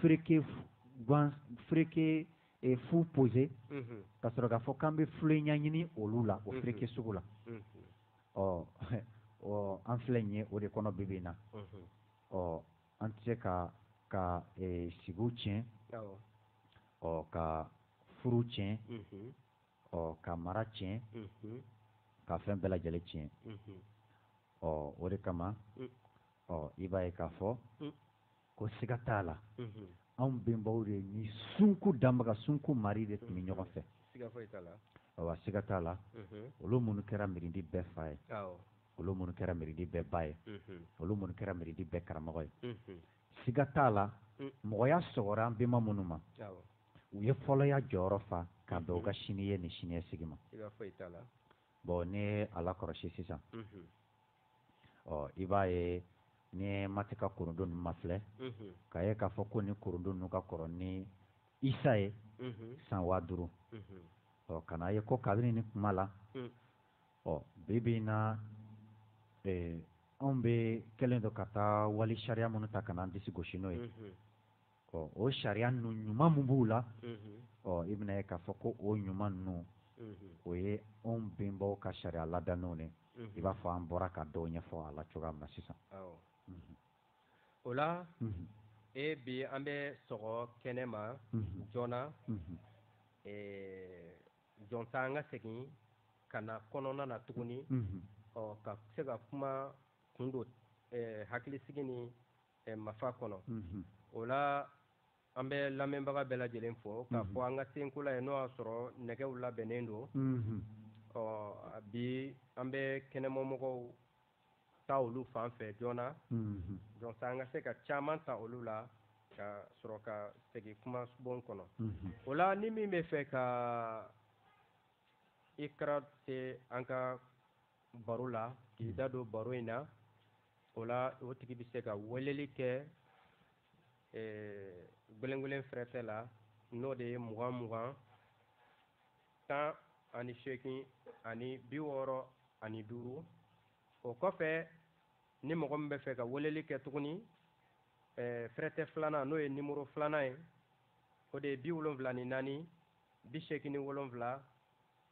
fereke fereke fu poser ka sɔrɔ k'a fɔ k'an bɛ fulen ɲɛɲini olu la o fereke sugu la ɔ ɔ an filɛ nin ye o de kɔnɔ bi bi in na ɔ an tɛ se ka ka sigi tiɲɛ ɔ ka furu tiɲɛ ɔ ka mara tiɲɛ ka fɛn bɛɛ lajɛlen tiɲɛ ɔ o de kama ɔ i b'a ye k'a fɔ ko siga t'a la anw bɛnbaw de ni sunkun danbaga sunkun maari de tun bɛ ɲɔgɔn fɛ awa siga t'a la olu minnu kɛra mirindi bɛɛ fa ye olu minnu kɛra mirindi bɛɛ ba ye olu minnu kɛra mirindi bɛɛ karamɔgɔ ye siga t'a la mɔgɔya sɔgɔra an bɛnba minnu ma u ye fɔlɔya jɔyɔrɔ fa ka bɛn u ka sini ye ni siniɲɛsigi ma bon n'i y'a lakɔlɔsi sisan ɔ i b'a ye ni maati ka kurundu ninnu mafilɛ k'a ye k'a fɔ ko ni kurundu ninnu ka kɔrɔ ni isa ye san waa duuru ɔ ka n'a ye ko kabini ni kuma la ɔ bi bi in na anw bɛ kɛlen don ka taa wali sariya minnu ta ka n'an disi gosi n'o ye ɔ o sariya ninnu ɲuman min b'u la ɔ i bɛn'a ye k'a fɔ ko o ɲuman ninnu o ye anw bɛnbaw ka sariya ladannenw ye i b'a fɔ an bɔra ka dɔw ɲɛfɔ a la cogoya min na sisan o la e bi an bɛ sɔgɔ kɛnɛ ma joona jɔnsa an ka segin ka na kɔnɔna na tuguni ɔ ka se ka kuma kun don hakilisigi ni ɛ mafa kɔnɔ o la an bɛ lamɛnbaga bɛɛ lajɛlen fo k'a fɔ an ka senkola ye n'o y'a sɔrɔ nɛgɛw labɛnnen don ɔ bi an bɛ kɛnɛmamɔgɔw ta olu fan fɛ joona jɔnsa an ka se ka caman ta olu la ka sɔrɔ ka segin kumabon kɔnɔ o la ni min b'a fɛ ka i kɛra se an ka baro la k'i da don baro in na o la o tigi bɛ se ka weleli kɛ eh, gwelengwelen fɛrɛtɛ la n'o de ye mugan mugan tan ani seegin ani bi wɔɔrɔ ani duuru o kɔfɛ ni mɔgɔ min b'a fɛ ka weleli kɛ tuguni eh, fɛrɛtɛ filanan n'o ye nimoro filanan ye o de ye bi wolonfila ni naani bi seegin ni wolonfila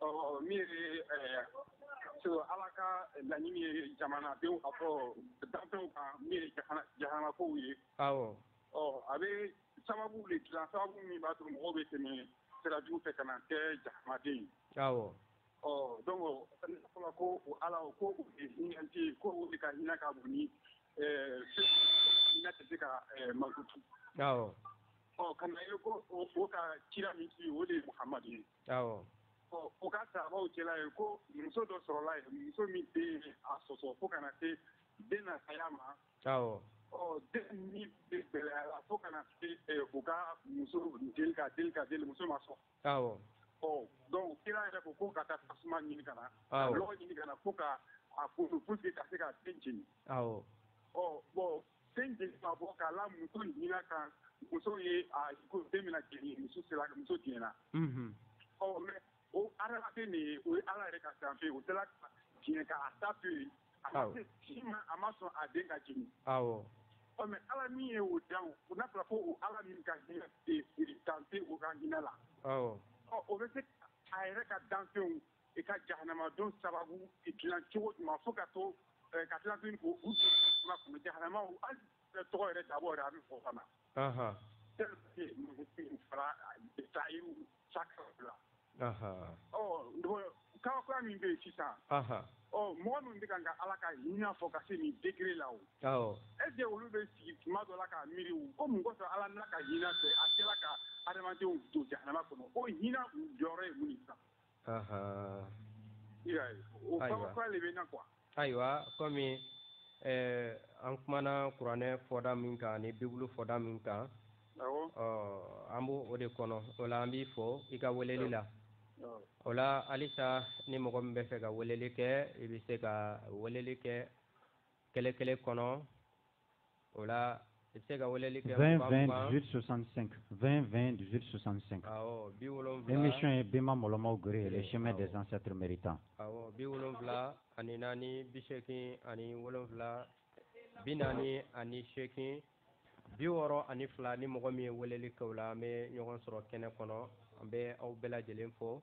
Ɔ min so ala ka laɲini ye jamana denw a fɔ danfɛnw kan min ye jahanamakaw ye ɔ a bɛ sababu de dilan sababu min b'a to mɔgɔw bɛ tɛmɛ sirajugu fɛ ka na kɛ jahanamaden ɔ dɔnku fɔlɔ ko ala ko hinɛti ko o de ka hinɛ ka bon ni hinɛ tɛ se ka makutu ɔ ka na ye ko o ka kira min ci o de ye muhamadu ye u ka saabaw cɛla ye ko muso dɔ sɔrɔla yen muso min den a sɔsɔ fo ka na se den na saya ma den ni gɛlɛyara fo ka na se u ka muso deli ka deli muso ma sɔn ɔ dɔnku kira yɛrɛ ko ko ka taa tasuma ɲini ka na ka lɔgɔ ɲini ka na fo ka a fo ka se ka den jeni ɔ bon Den jeni ma bɔ k'a la muso hinɛ kan muso ye ko den bɛna jeni muso sera muso diɲɛna ɔ mɛ o adamaden de ye o ye ala yɛrɛ ka danfɛn o tila ka diɲɛ k'a ta to yen a si ma a ma sɔn a den ka jeni ɔ mɛ ala min ye o dan o n'a fɔra ko ala min ka hinɛ ca o ka hinɛ la ɔ o bɛ se a yɛrɛ ka danfɛnw i ka jahanama don sababu dilan cogo jumɛn fo ka to ka tila tuguni jahanamaw tɔgɔ yɛrɛ da yɛrɛ a bɛ fɔ ka na fara sayiru sakara kabakoya min bɛ yen sisan mɔgɔ min bɛ ka ka ala ka hinɛ fɔ ka se nin degré la est-ce que olu bɛ sigi tuma dɔ la ka miiri ko mun kɔsɔn ala n'a ka hinɛ fɛ a sera ka adamadenw don jahanama kɔnɔ o hinɛ jɔyɔrɔ ye mun ayiwa kɔmi an kumana kuranɛ fɔda min kan ni bibulu fɔda min kan an b'o de kɔnɔ o la an b'i fo i ka weleli la o la halisa ni mɔgɔ min bɛ fɛ ka weleli kɛ i bɛ se ka weleli kɛ kɛlɛ kɛlɛ kɔnɔ o la i bɛ se ka weleli kɛ 20 20 18 65 20 20 18 65 émission ye Bema Mɔlɔmaw Gere le chemin des ancêtres méritants awɔ bi wolonwula ani naani bi seegin ani wolonwula bi naani ani seegin bi wɔɔrɔ ani fila ni mɔgɔ min ye weleli kɛ o la an bɛ ɲɔgɔn sɔrɔ kɛnɛ kɔnɔ an bɛ aw bɛɛ lajɛlen fo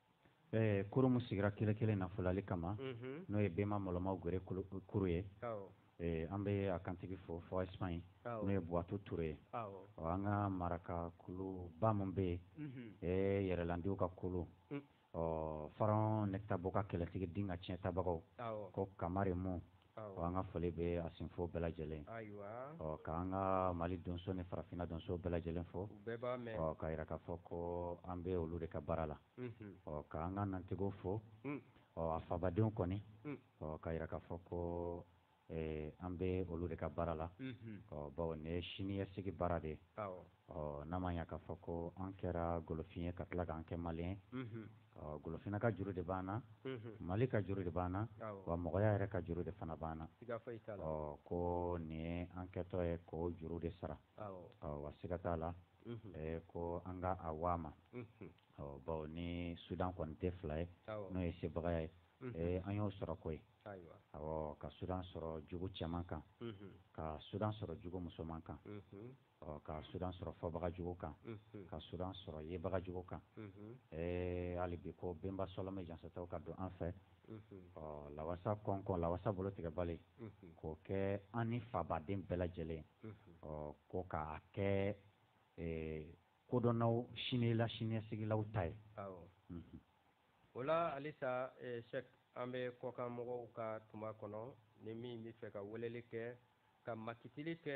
Ɛɛ kuru min sigira kɛlɛ kelen nafololi kama n'o ye Bema Mɔlɔmaw Gere kuru ye an bɛ a kantigi fo fo Espagne n'o ye buwatu tuure ye ɔ an ka maraka kuluba minnu bɛ yen yɛrɛlandiw ka kulu Faraɔn Nɛkitabo ka kɛlɛtigi Dinga tiɲɛ tabagaw ko kamalenmu Ɔ an ka foli bɛ a sinfɔ bɛɛ lajɛlen ɔ k'an ka mali donso ni farafinna donso bɛɛ lajɛlen fo k'a yira k'a fɔ ko an bɛ olu de ka baara la ɔ k'an ka nantigiw fo ɔ a fabadenw kɔni ɔ k'a yira k'a fɔ ko an bɛ olu de ka baara la ɔ bawo nin ye siniɲɛsigi baara de ye Ɔ n'a ma ya k'a fɔ ko an kɛra golofin ye ka tila k'an kɛ maliyɛn ɔ golofina ka juru de b'an na mali ka juru de b'an na wa mɔgɔya yɛrɛ ka juru de fana b'an na ɔ ko nin ye an kɛtɔ ye k'o juru de sara ɔ wa siga t'a la ko an ka a waa ma ɔ bawo ni sudan kɔni tɛ fila ye n'o ye sebagaya ye an y'o sɔrɔ koyi ka sudan sɔrɔ jugu cɛman kan ka sudan sɔrɔ jugu musoman kan ɔ ka sudan sɔrɔ fɔbagajugu kan ka sudan sɔrɔ yebagajugu kan ɛɛ hali bi ko benba sɔlɔmɛ jansataw ka don an fɛ ɔ lawasa kɔnkɔn lawasa bolo tigɛbali k'o kɛ an ni fabaden bɛɛ lajɛlen ɔ ko k'a kɛ kodɔnnaw sinila siniɲɛsigilaw ta ye o la halisa sɛki an bɛ kɔkan mɔgɔw ka tuma kɔnɔ ni min bɛ fɛ ka weleli kɛ ka makitili kɛ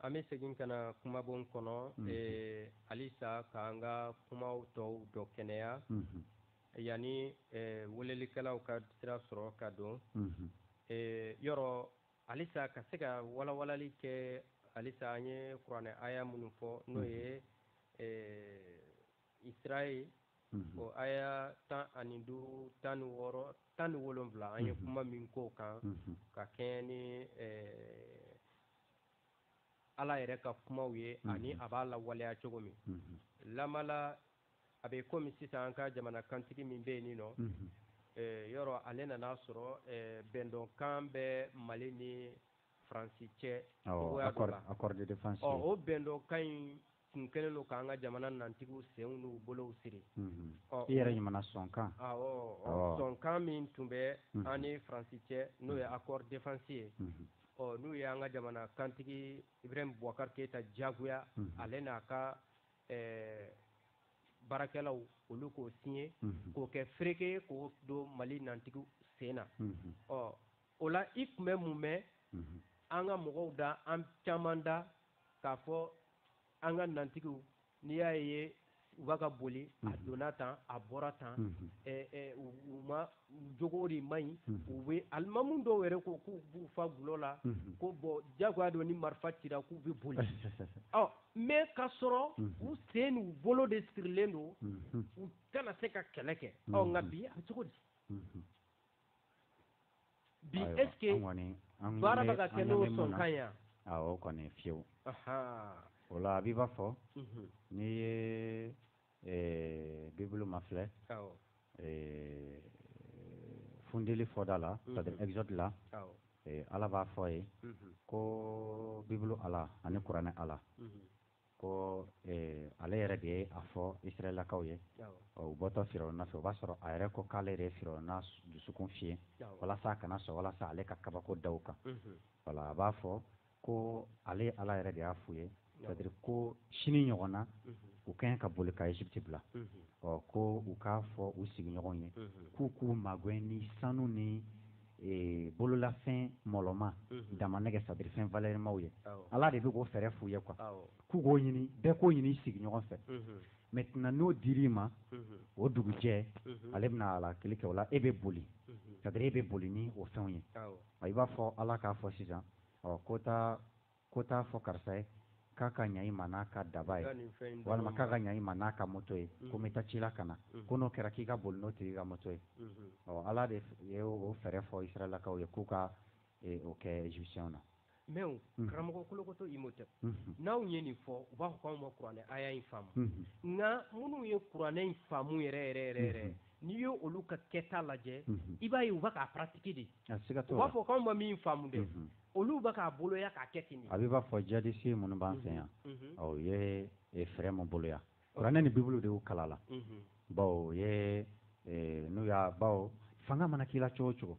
An bɛ segin ka na kumabon kɔnɔ halisa k'an ka kumaw tɔw dɔ kɛnɛya yanni welelikɛlaw ka sira sɔrɔ ka don yɔrɔ halisa ka se ka walawalali kɛ halisa an ye kuranɛ aya minnu fɔ n'o ye eh, isirayɛli mhm. o aya tan ani duuru tan ni wɔɔrɔ tan ni wolonwula an ye mhm. kuma min k'o kan mhm. ka kɛɲɛ ni eh, ala yɛrɛ ka kumaw ye ani a b'a lawaleya cogo min lamala a bɛ komi sisan an ka jamana kantigi min bɛ nin nɔ yɔrɔ ale nan'a sɔrɔ bɛndɔnkan bɛ mali ni faransi cɛ accord de défense o bɛndɔnkan in tun kɛlen don k'an ka jamana nantigiw senw n'u bolow siri ɔ i yɛrɛ ɲumana sɔnkan sɔnkan min tun bɛ an ni faransi cɛ n'o ye accord défense ye ɔ n'u ye an ka jamana kantigi ibrahima bubakari keyita diyagoya ale n'a ka ɛɛ baarakɛlaw olu k'o signer mhm. k'o kɛ fereke ye k'o don mali nantigiw sen na mhm. ɔ o la i tun bɛ mun mɛn mhm. an ka mɔgɔw da an caman da k'a fɔ an ka nantigiw n'i y'a ye u b'a ka boli a donna tan a bɔra tan u ma jogo de man ɲi u bɛ alimamu dɔw yɛrɛ ko k'u b'u fa gulɔ la ko bɔn jagoya don ni marifa cira k'u bɛ boli ɔ mais k'a sɔrɔ u sen n'u bolo de sirilen don u tɛna se ka kɛlɛ kɛ nka bi a bɛ cogo di bi est-ce que baara bɛ ka kɛ n'o sɔnkan ye o kɔni fiyewu o la a b'i b'a fɔ n'i ye Ɛɛ bibulu ma filɛ funtili fɔda la c'est-à-dire exode la ala b'a fɔ yen ko bibulu ala ani kuranɛ ala ko ale yɛrɛ de ye a fɔ israɛlakaw ye u bɔtɔ firawuna fɛ o b'a sɔrɔ a yɛrɛ ko k'ale yɛrɛ ye firawuna dusukun fiyen walasa a kana sɔn walasa ale ka kabako da u kan wala a b'a fɔ ko ale ala yɛrɛ de y'a f'u ye c'est-à-dire ko sini ɲɔgɔn na u ka ɲi ka boli ka Egypte bila ɔ ko u k'a fɔ u sigiɲɔgɔnw ye k'u k'u magɛn ni sanu ni e, bololafɛn mɔlɔma damanɛgɛ c'est-à-dire fɛn valɛrimaw ye ala de bɛ k'o fɛɛrɛ f'u ye quoi k'u k'o ɲini bɛɛ k'o ɲini i sigiɲɔgɔn fɛ maintenant n'o dir'i ma o dugujɛ ale bɛna halakili kɛ o la e bɛ boli c'est-à-dire e bɛ boli ni o fɛnw ye i b'a fɔ ala k'a fɔ sisan ɔ ko taa ko t'a fɔ karisa ye k'a ka ɲa i ma n'a ka daba ye walima k'a ka ɲa i ma n'a ka moto ye ko n bɛ taa ci la ka na ko n'o kɛra k'i ka boli n'o tigi ka moto ye ɔ ala de ye o fɛɛrɛ fɔ israɛlakaw ye k'u ka o kɛ égyptienw na mais karamɔgɔ kolokoto Imhotep n'anw ye nin fɔ u b'a fɔ k'anw ma kuranɛ aya in faamu nka minnu ye kuranɛ in faamu yɛrɛ yɛrɛ yɛrɛ yɛrɛ n'i ye olu ka kɛta lajɛ i b'a ye u bɛ k'a pratiquer de u b'a fɔ k'anw ma min faamu de olu bɛ k'a boloya k'a kɛ ten a b'i b'a fɔ djihadiste minnu b'an fɛ yan u ye fɛɛrɛ min boloya kuranɛ ni bibulu de y'u kalan la bawo ye n'u y'a bawo fanga mana k'i la cogo cogo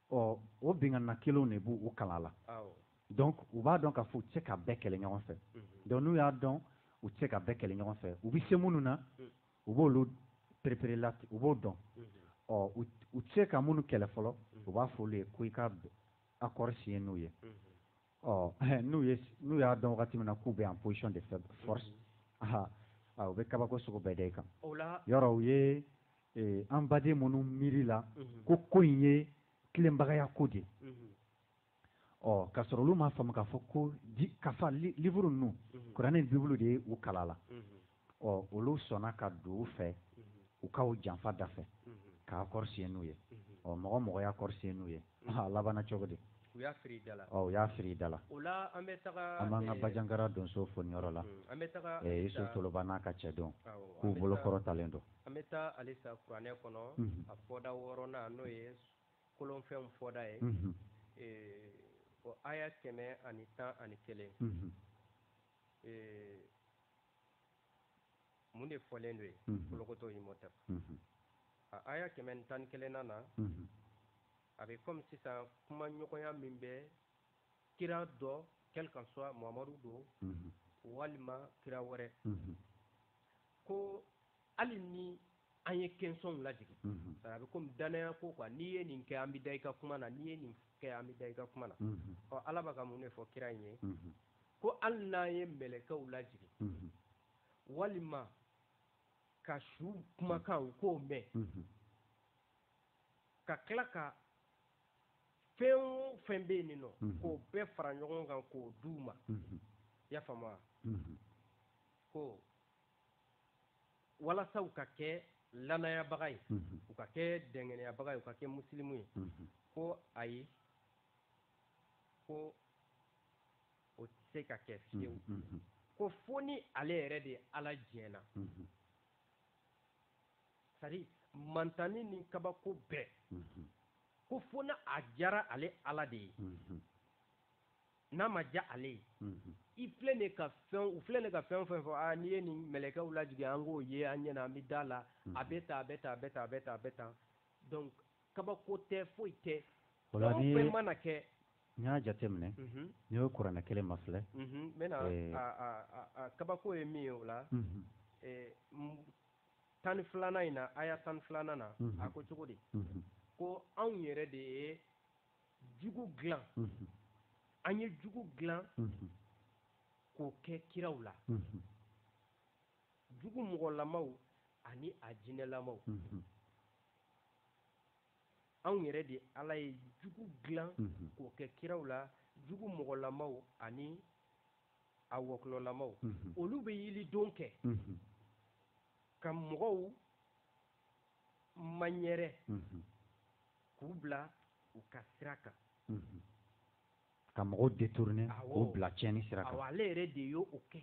ɔ o binkanna kelenw de b'u kalan la donc u b'a dɔn k'a fɔ u tɛ se ka bɛɛ kɛlɛ ɲɔgɔn fɛ donc n'u y'a dɔn u tɛ se ka bɛɛ kɛlɛ ɲɔgɔn fɛ u bɛ se minnu na u b'olu perepere la u b'o dɔn ɔ u tɛ se ka minnu kɛlɛ fɔlɔ u b'a fɔ olu ye ko i ka accord signer n'u ye ɔ n'u ye n'u y'a dɔn wagati min na k'u bɛ en position de force aha u bɛ kabako sugu bɛɛ da i kan yɔrɔ u ye e, an baden minnu miiri la mhm. ko ko in ye tilenbagaya ko de ye mhm. ɔ k'a sɔrɔ olu m'a faamu k'a fɔ ko kafa livre ninnu mhm. kuranɛ ni bibulu de ye u kala la ɔ olu sɔnna ka don u fɛ u ka u janfa da fɛ ka accord signé n'u ye ɔ mɔgɔ mɔgɔ ye accord signé n'u ye a labanna cogo di u y'a firi da la ɔ u y'a firi da la o la an bɛ taga an b'an ka bajankara donso fo nin yɔrɔ la an bɛ taga iso toloba n'a ka cɛdenw k'u bolo kɔrɔtalen don an bɛ taa halisa kuranɛ kɔnɔ a fɔda wɔɔrɔnan n'o ye kolonfɛnw fɔda ye o aya kɛmɛ ani tan ani kelen ee mun de fɔlen don yen kolokotɔ imhotep a aya kɛmɛ tan ni kelenna na a bɛ kɔmi sisan kuma ɲɔgɔnya min bɛ kira dɔ quel qu'en soit mamadu don walima kira wɛrɛ ko hali ni an ye kɛnsɔnw lajigi sara a bɛ kɔmi danaya ko quoi n'i ye nin kɛ an bɛ da i ka kuma na n'i ye nin kɛ an bɛ da i ka kuma na ɔ ala b'a ka mun de fɔ kira in ye ko hali n'an ye mɛlɛkɛw lajigi walima ka su kumakan k'o mɛn ka tila ka fɛn o fɛn bɛ yen nin nɔ k'o bɛɛ fara ɲɔgɔn kan k'o d'u ma i y'a faamu wa ko walasa u ka kɛ lanayabaga ye u ka kɛ dɛngɛnɛyabaga ye u ka kɛ musilimu ye ko ayi ko o tɛ se ka kɛ fiyewu ko fo ni ale yɛrɛ de ye ala diɲɛna sari mantani ni kabako bɛɛ ko fo na a diyara ale ala de ye n'a ma diya ale ye i filɛ de ka fɛn u filɛ de ka fɛn fɛn fɔ n'i ye nin mɛlɛkɛw lajigi an k'o ye an ɲɛna an bɛ da la a bɛ taa a bɛ taa a bɛ taa a bɛ taa a bɛ taa donc kabako tɛ foyi tɛ mana kɛ n y'a jate minɛ n'i y'o kuranɛ kelen mafilɛ n bɛna kabako ye min ye o la tan ni filanan in na aya tan ni filanan na a ko cogo di ko anw yɛrɛ de ye jugu dilan an ye jugu dilan k'o kɛ kiraw la jugu mɔgɔlamaw ani a jinɛlamaw anw yɛrɛ de ala ye jugu dilan k'o kɛ kiraw la jugu mɔgɔlamaw ani a wɔkɔlɔlamaw olu bɛ yelidon kɛ ka mɔgɔw maɲɛrɛ k'u bila u ka sira kan ka mɔgɔw détourner k'u bila tiɲɛni sira kan ale yɛrɛ de y'o kɛ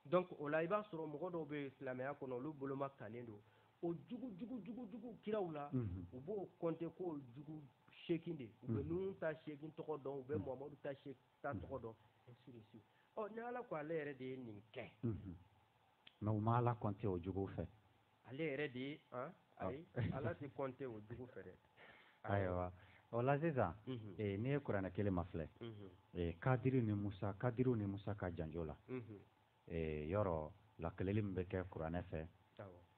donc o la i b'a sɔrɔ mɔgɔ dɔw bɛ silamɛya kɔnɔ olu boloma kannen don o jugu jugu jugu jugu kiraw la u b'o compter k'o jugu seegin de u bɛ Nuhun ta seegin tɔgɔ dɔn u bɛ Muhamadu ta seegin ta tɔgɔ dɔn ainsi de suite ɔ ni Ala ko ale yɛrɛ de ye nin kɛ mais u ma ala compter o jugu fɛ ale yɛrɛ de ye ah. ayi ala tɛ compter o jugu fɛ dɛ ayiwa o la sisan mhm. eh, n'i ye kuranɛ kelen mafilɛ mhm. eh, kadiri ni musa kadiriw ni musa ka janjo la mhm. eh, yɔrɔ lakeleli min bɛ kɛ kuranɛ fɛ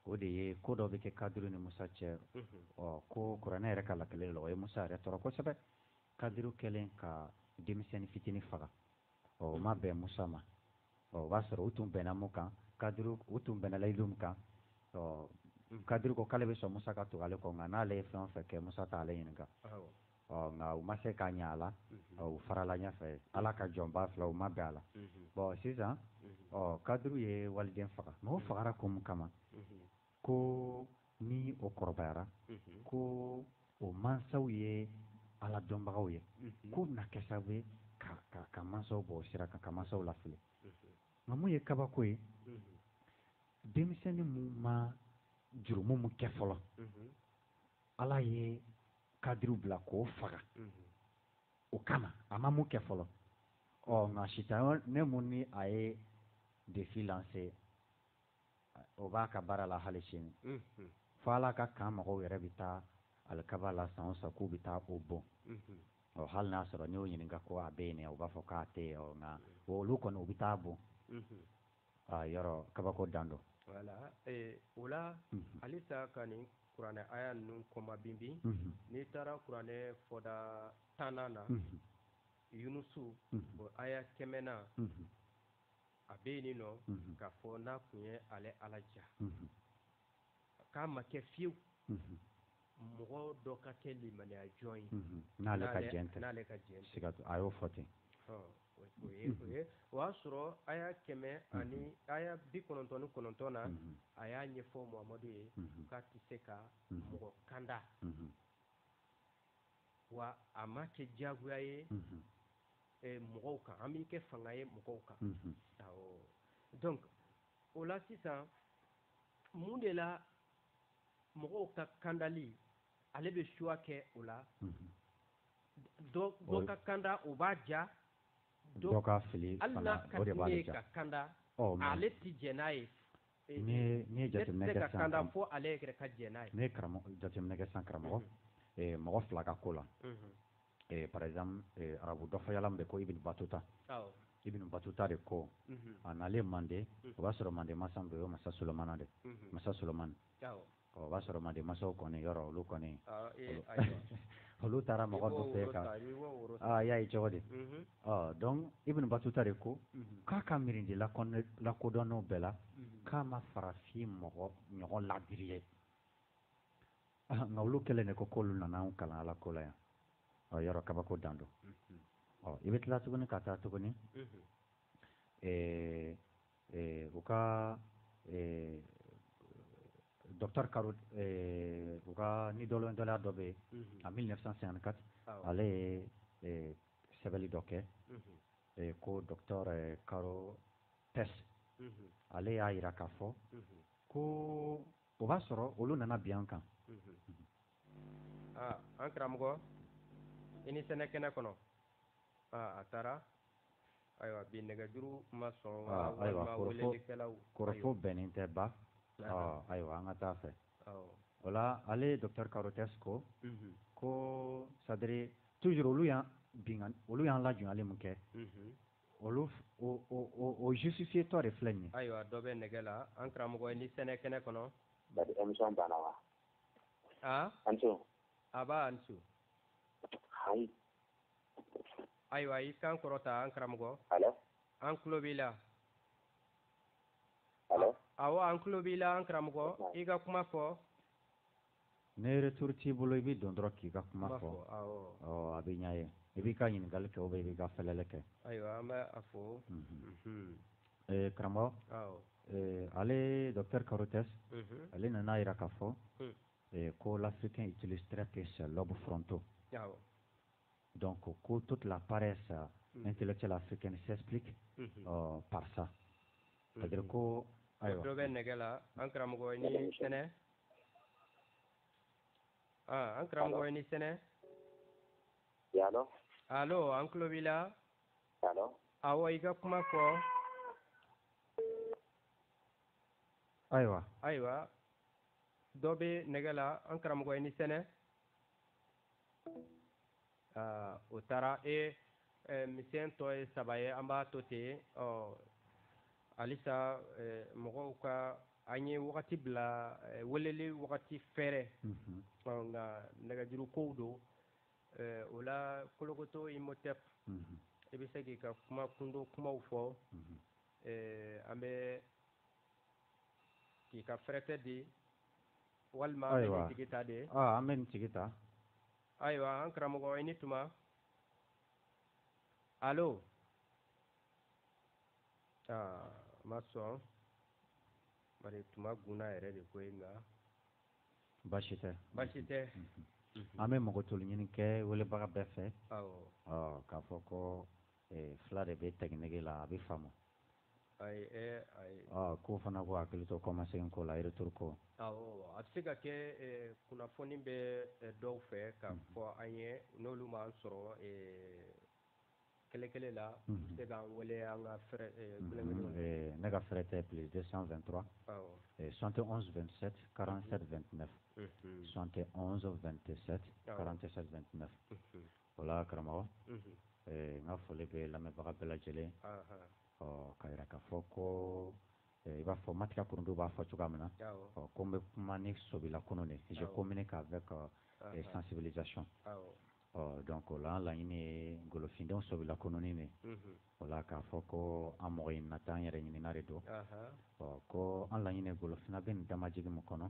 o de ye ko dɔ bɛ kɛ kadiri ni musa cɛ ɔ ko kuranɛ yɛrɛ ka lakeleli la o ye musa yɛrɛ tɔɔrɔ kosɛbɛ kadiri kɛlen ka denmisɛnnin fitinin faga ɔ o ma bɛn musa ma ɔ o b'a sɔrɔ u tun bɛnna mun kan kadiri u tun bɛnna layidu min kan ɔ kadiri ko k'ale bɛ sɔn musa ka tugu ale kɔ nka n'ale ye fɛn o fɛn kɛ musa t'ale ɲininka ɔ nka u ma se k'a ɲɛ a la ɔ u farala ɲɛfɛ ala ka jɔnba fila u ma bɛn a la bon sisan ɔ kadiri ye waliden faga mais o fagara kun min kama ko ni o kɔrɔbayara ko o mansaw ye ala dɔnbagaw ye k'o bɛna kɛ sababu ye ka mansaw bɔ sira kan ka mansaw lafili nka mun ye kabako ye denmisɛnnin min ma jurumu min kɛ fɔlɔ ala ye kadiriw bila k'o faga o kama a ma mun kɛ fɔlɔ ɔ nka sitanɛ mun ni a ye défi lancer o b'a ka baara la hali sini fo ala ka kan mɔgɔw yɛrɛ bɛ taa alikaba la san o san k'u bɛ taa o bon ɔ hali n'a sɔrɔ n'i y'o ɲininka ko a bɛ yen o b'a fɔ k'a tɛ nka olu kɔni u bɛ taa bon a yɔrɔ kabako dan don o la halisa ka nin kuranɛ aya ninnu kɔma binbin n'i taara kuranɛ fɔda tannan na yunusu o aya kɛmɛnan a bɛ yen nɔ k'a fɔ n'a tun ye ale ala ja k'a ma kɛ fiyewu mɔgɔ dɔ ka kɛ limaniya jɔn ye n'ale ka jɛn n'ale ka jɛn tɛ a y'o fɔ ten o ye o ye o y'a sɔrɔ aya kɛmɛ ani aya bi kɔnɔntɔn ni kɔnɔntɔn na a y'a ɲɛfɔ muhamadu ye k'a tɛ se ka mɔgɔ kanda wa a ma kɛ diyagoya ye mɔgɔw kan an b'i kɛ fanga ye mɔgɔw kan donc o la sisan mun de la mɔgɔw ka kandali ale bɛ choix kɛ o la dɔ ka kanda o b'a ja dɔ ka fili ka kanda ale tɛ jɛn n'a ye jateminɛ kɛ sisan ka fɔ ale yɛrɛ ka jɛn n'a ye ne karamɔgɔ jateminɛ kɛ sisan karamɔgɔ mɔgɔ fila ka ko la par exemple arabu dɔfɔyala min bɛ ko Ibn Batuta Ibn Batuta de ko a nalen mande o b'a sɔrɔ mande masa min bɛ yen o ye masa Solomana de masa Solomani Ɔ o b'a sɔrɔ mande masaw kɔni yɔrɔ olu kɔni aa ee ayiwa olu taara mɔgɔ dɔ fɛ aa i y'a ye cogo di Unhun. ɔ donc Ibn Batuta de ko Unhun. k'a ka mirindi lakodɔnnenw bɛɛ la Unhun. k'a ma farafin mɔgɔ ɲɔgɔn laadiri ye aa nka olu kɛlen de ko k'olu nana anw kalan Ala ko la yan ɔ yɔrɔ kabako dan don Unhun. ɔ i bɛ tila tuguni ka taa tuguni Unhun. ee u ka docteur Caro u ka ni dɔlɔndala dɔ bɛ yen en 1954 ale ye sɛbɛnli dɔ kɛ ko docteur Carothers ale y'a yira k'a fɔ ko o b'a sɔrɔ olu nana bin an kan an karamɔgɔ i ni sɛnɛ kɛnɛ kɔnɔ a taara ayiwa bi nɛgɛjuru ma sɔn ah, ayiwa kɔrɔfo bɛnnen tɛ ba ah, ayiwa an ka taa fɛ o la ale docteur Carothers ko mhm. ko c'est-à-dire toujours olu y'an binkan olu y'an lajɔnyali min kɛ mhm. olu o justifié tɔ de filɛ nin ye ayiwa dɔ bɛ nɛgɛ la an karamɔgɔ i ni sɛnɛ kɛnɛ kɔnɔ bari émission banna wa aa ah? an ce a b'a an ce hayi ayiwa i kan kɔrɔta an karamɔgɔ allô an tulo b'i la awɔ an tulo b'i la an karamɔgɔ i ka kuma fɔ ne retour t'i bolo i bɛ don dɔrɔn k'i ka kuma fɔ a bɛ ɲɛ ye i b'i ka ɲininkali kɛ ou bien i b'i ka fɛlɛlɛ kɛ ayiwa an bɛ a fɔ karamɔgɔ ale docteur Carothers ale nana a yira k'a fɔ ko l'Africain utilise très peu ses lobes frontaux Donc ko ko toute la paresse intellectuelle africaine s'explique par ça c'est-à-dire ko ayiwa dɔ bɛ nɛgɛ la an karamɔgɔ ni sɛnɛ aa an karamɔgɔ ni sɛnɛ allô an tulo b'i la awɔ i ka kuma fɔ ayiwa ayiwa dɔ bɛ nɛgɛ la an karamɔgɔ ni sɛnɛ aa o taara e misɛn tɔ ye saba ye an b'a to ten ɔ halisa mɔgɔw ka an ye wagati bila weleli wagati fɛrɛ mhm. nka nɛgɛjuru kow don o la kolokoto imotep mhm. i bɛ se k'i ka kuma kundo kumaw fɔ mhm. an bɛ k'i ka fɛrɛtɛ di walima an bɛ nin tigi ta de ah, an bɛ nin tigi ta ayiwa an karamɔgɔ i ni tuma alo aa ah, ma sɔn bari tuma gunna yɛrɛ de ko ye nka baasi tɛ baasi tɛ mhm. Mhm. an bɛ makotoli ɲini kɛ welebaga bɛɛ fɛ k'a fɔ ko eh, fila de bɛ tɛkiniki la a b'a faamu ko fana ko hakili to kɔma se ko la yɛrɛre ko a bɛ se ka kɛ kunnafoni bɛ dɔw fɛ ka fɔ an ye n'olu ma sɔrɔ kɛlɛkɛla la se ka wele an ka ne ka fɛɛrɛ tɛ pli tɛ sanfɛ dɔrɔn sante anwkarand2 sante anw tɛ tɛ O la karamɔgɔ n ka foli bɛ lamɛnbaga bɛɛ lajɛlen ɔ k'a yira k'a fɔ ko i b'a fɔ Matika Kurundu b'a fɔ cogoya min na ɔ ko n bɛ kuma ni sobila kununni de je communique avec sensibilisation ɔ donc o la an laɲini ye golofindenw sobila kununni de O la k'a fɔ ko an mɔgɔ in na taa an yɛrɛ ɲinina de don ɔ ko an laɲini golofinna bɛ nin damajigi min kɔnɔ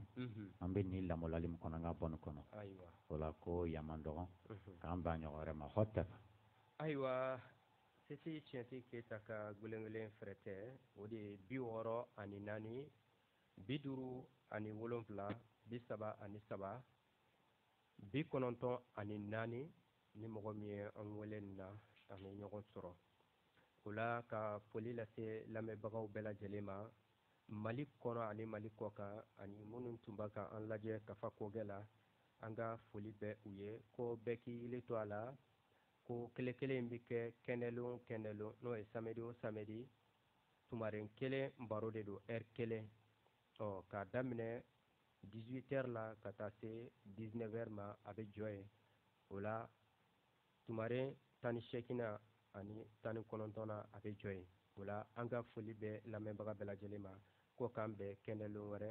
an bɛ nin lamaloli min kɔnɔ an ka bɔ nin kɔnɔ o la ko yan man dɔgɔ k'an bɛn ɲɔgɔn wɛrɛ ma hotɛp ayiwa sisi tiɲɛti keyita ka gelengelen fɛrɛtɛ o de ye bi wɔɔrɔ ani naani bi duuru ani wolonfila bi saba ani saba bi kɔnɔntɔn ani naani ni mɔgɔ min ye an wele nin na an bɛ ɲɔgɔn sɔrɔ o la ka foli lase lamɛnbagaw bɛɛ lajɛlen ma mali kɔnɔ ani mali kɔ kan ani minnu tun bɛ ka an lajɛ kafa kɔgɛ la an ka foli bɛ u ye ko bɛɛ k'i yili to a la ko kelen kelen in bɛ kɛ kɛnɛlon kɛnɛlon n'o ye samedi o samedi tumaren kelen baro de don ɛri kelen Ɔ k'a daminɛ 18 heures la ka taa se 19 heures ma a bɛ jɔ yen, o la tumaren tan ni seeginnan ani tan ni kɔnɔntɔnnan a bɛ jɔ yen, o la an ka foli bɛ lamɛnbaga bɛɛ lajɛlen ma ko k'an bɛn kɛnɛlon wɛrɛ.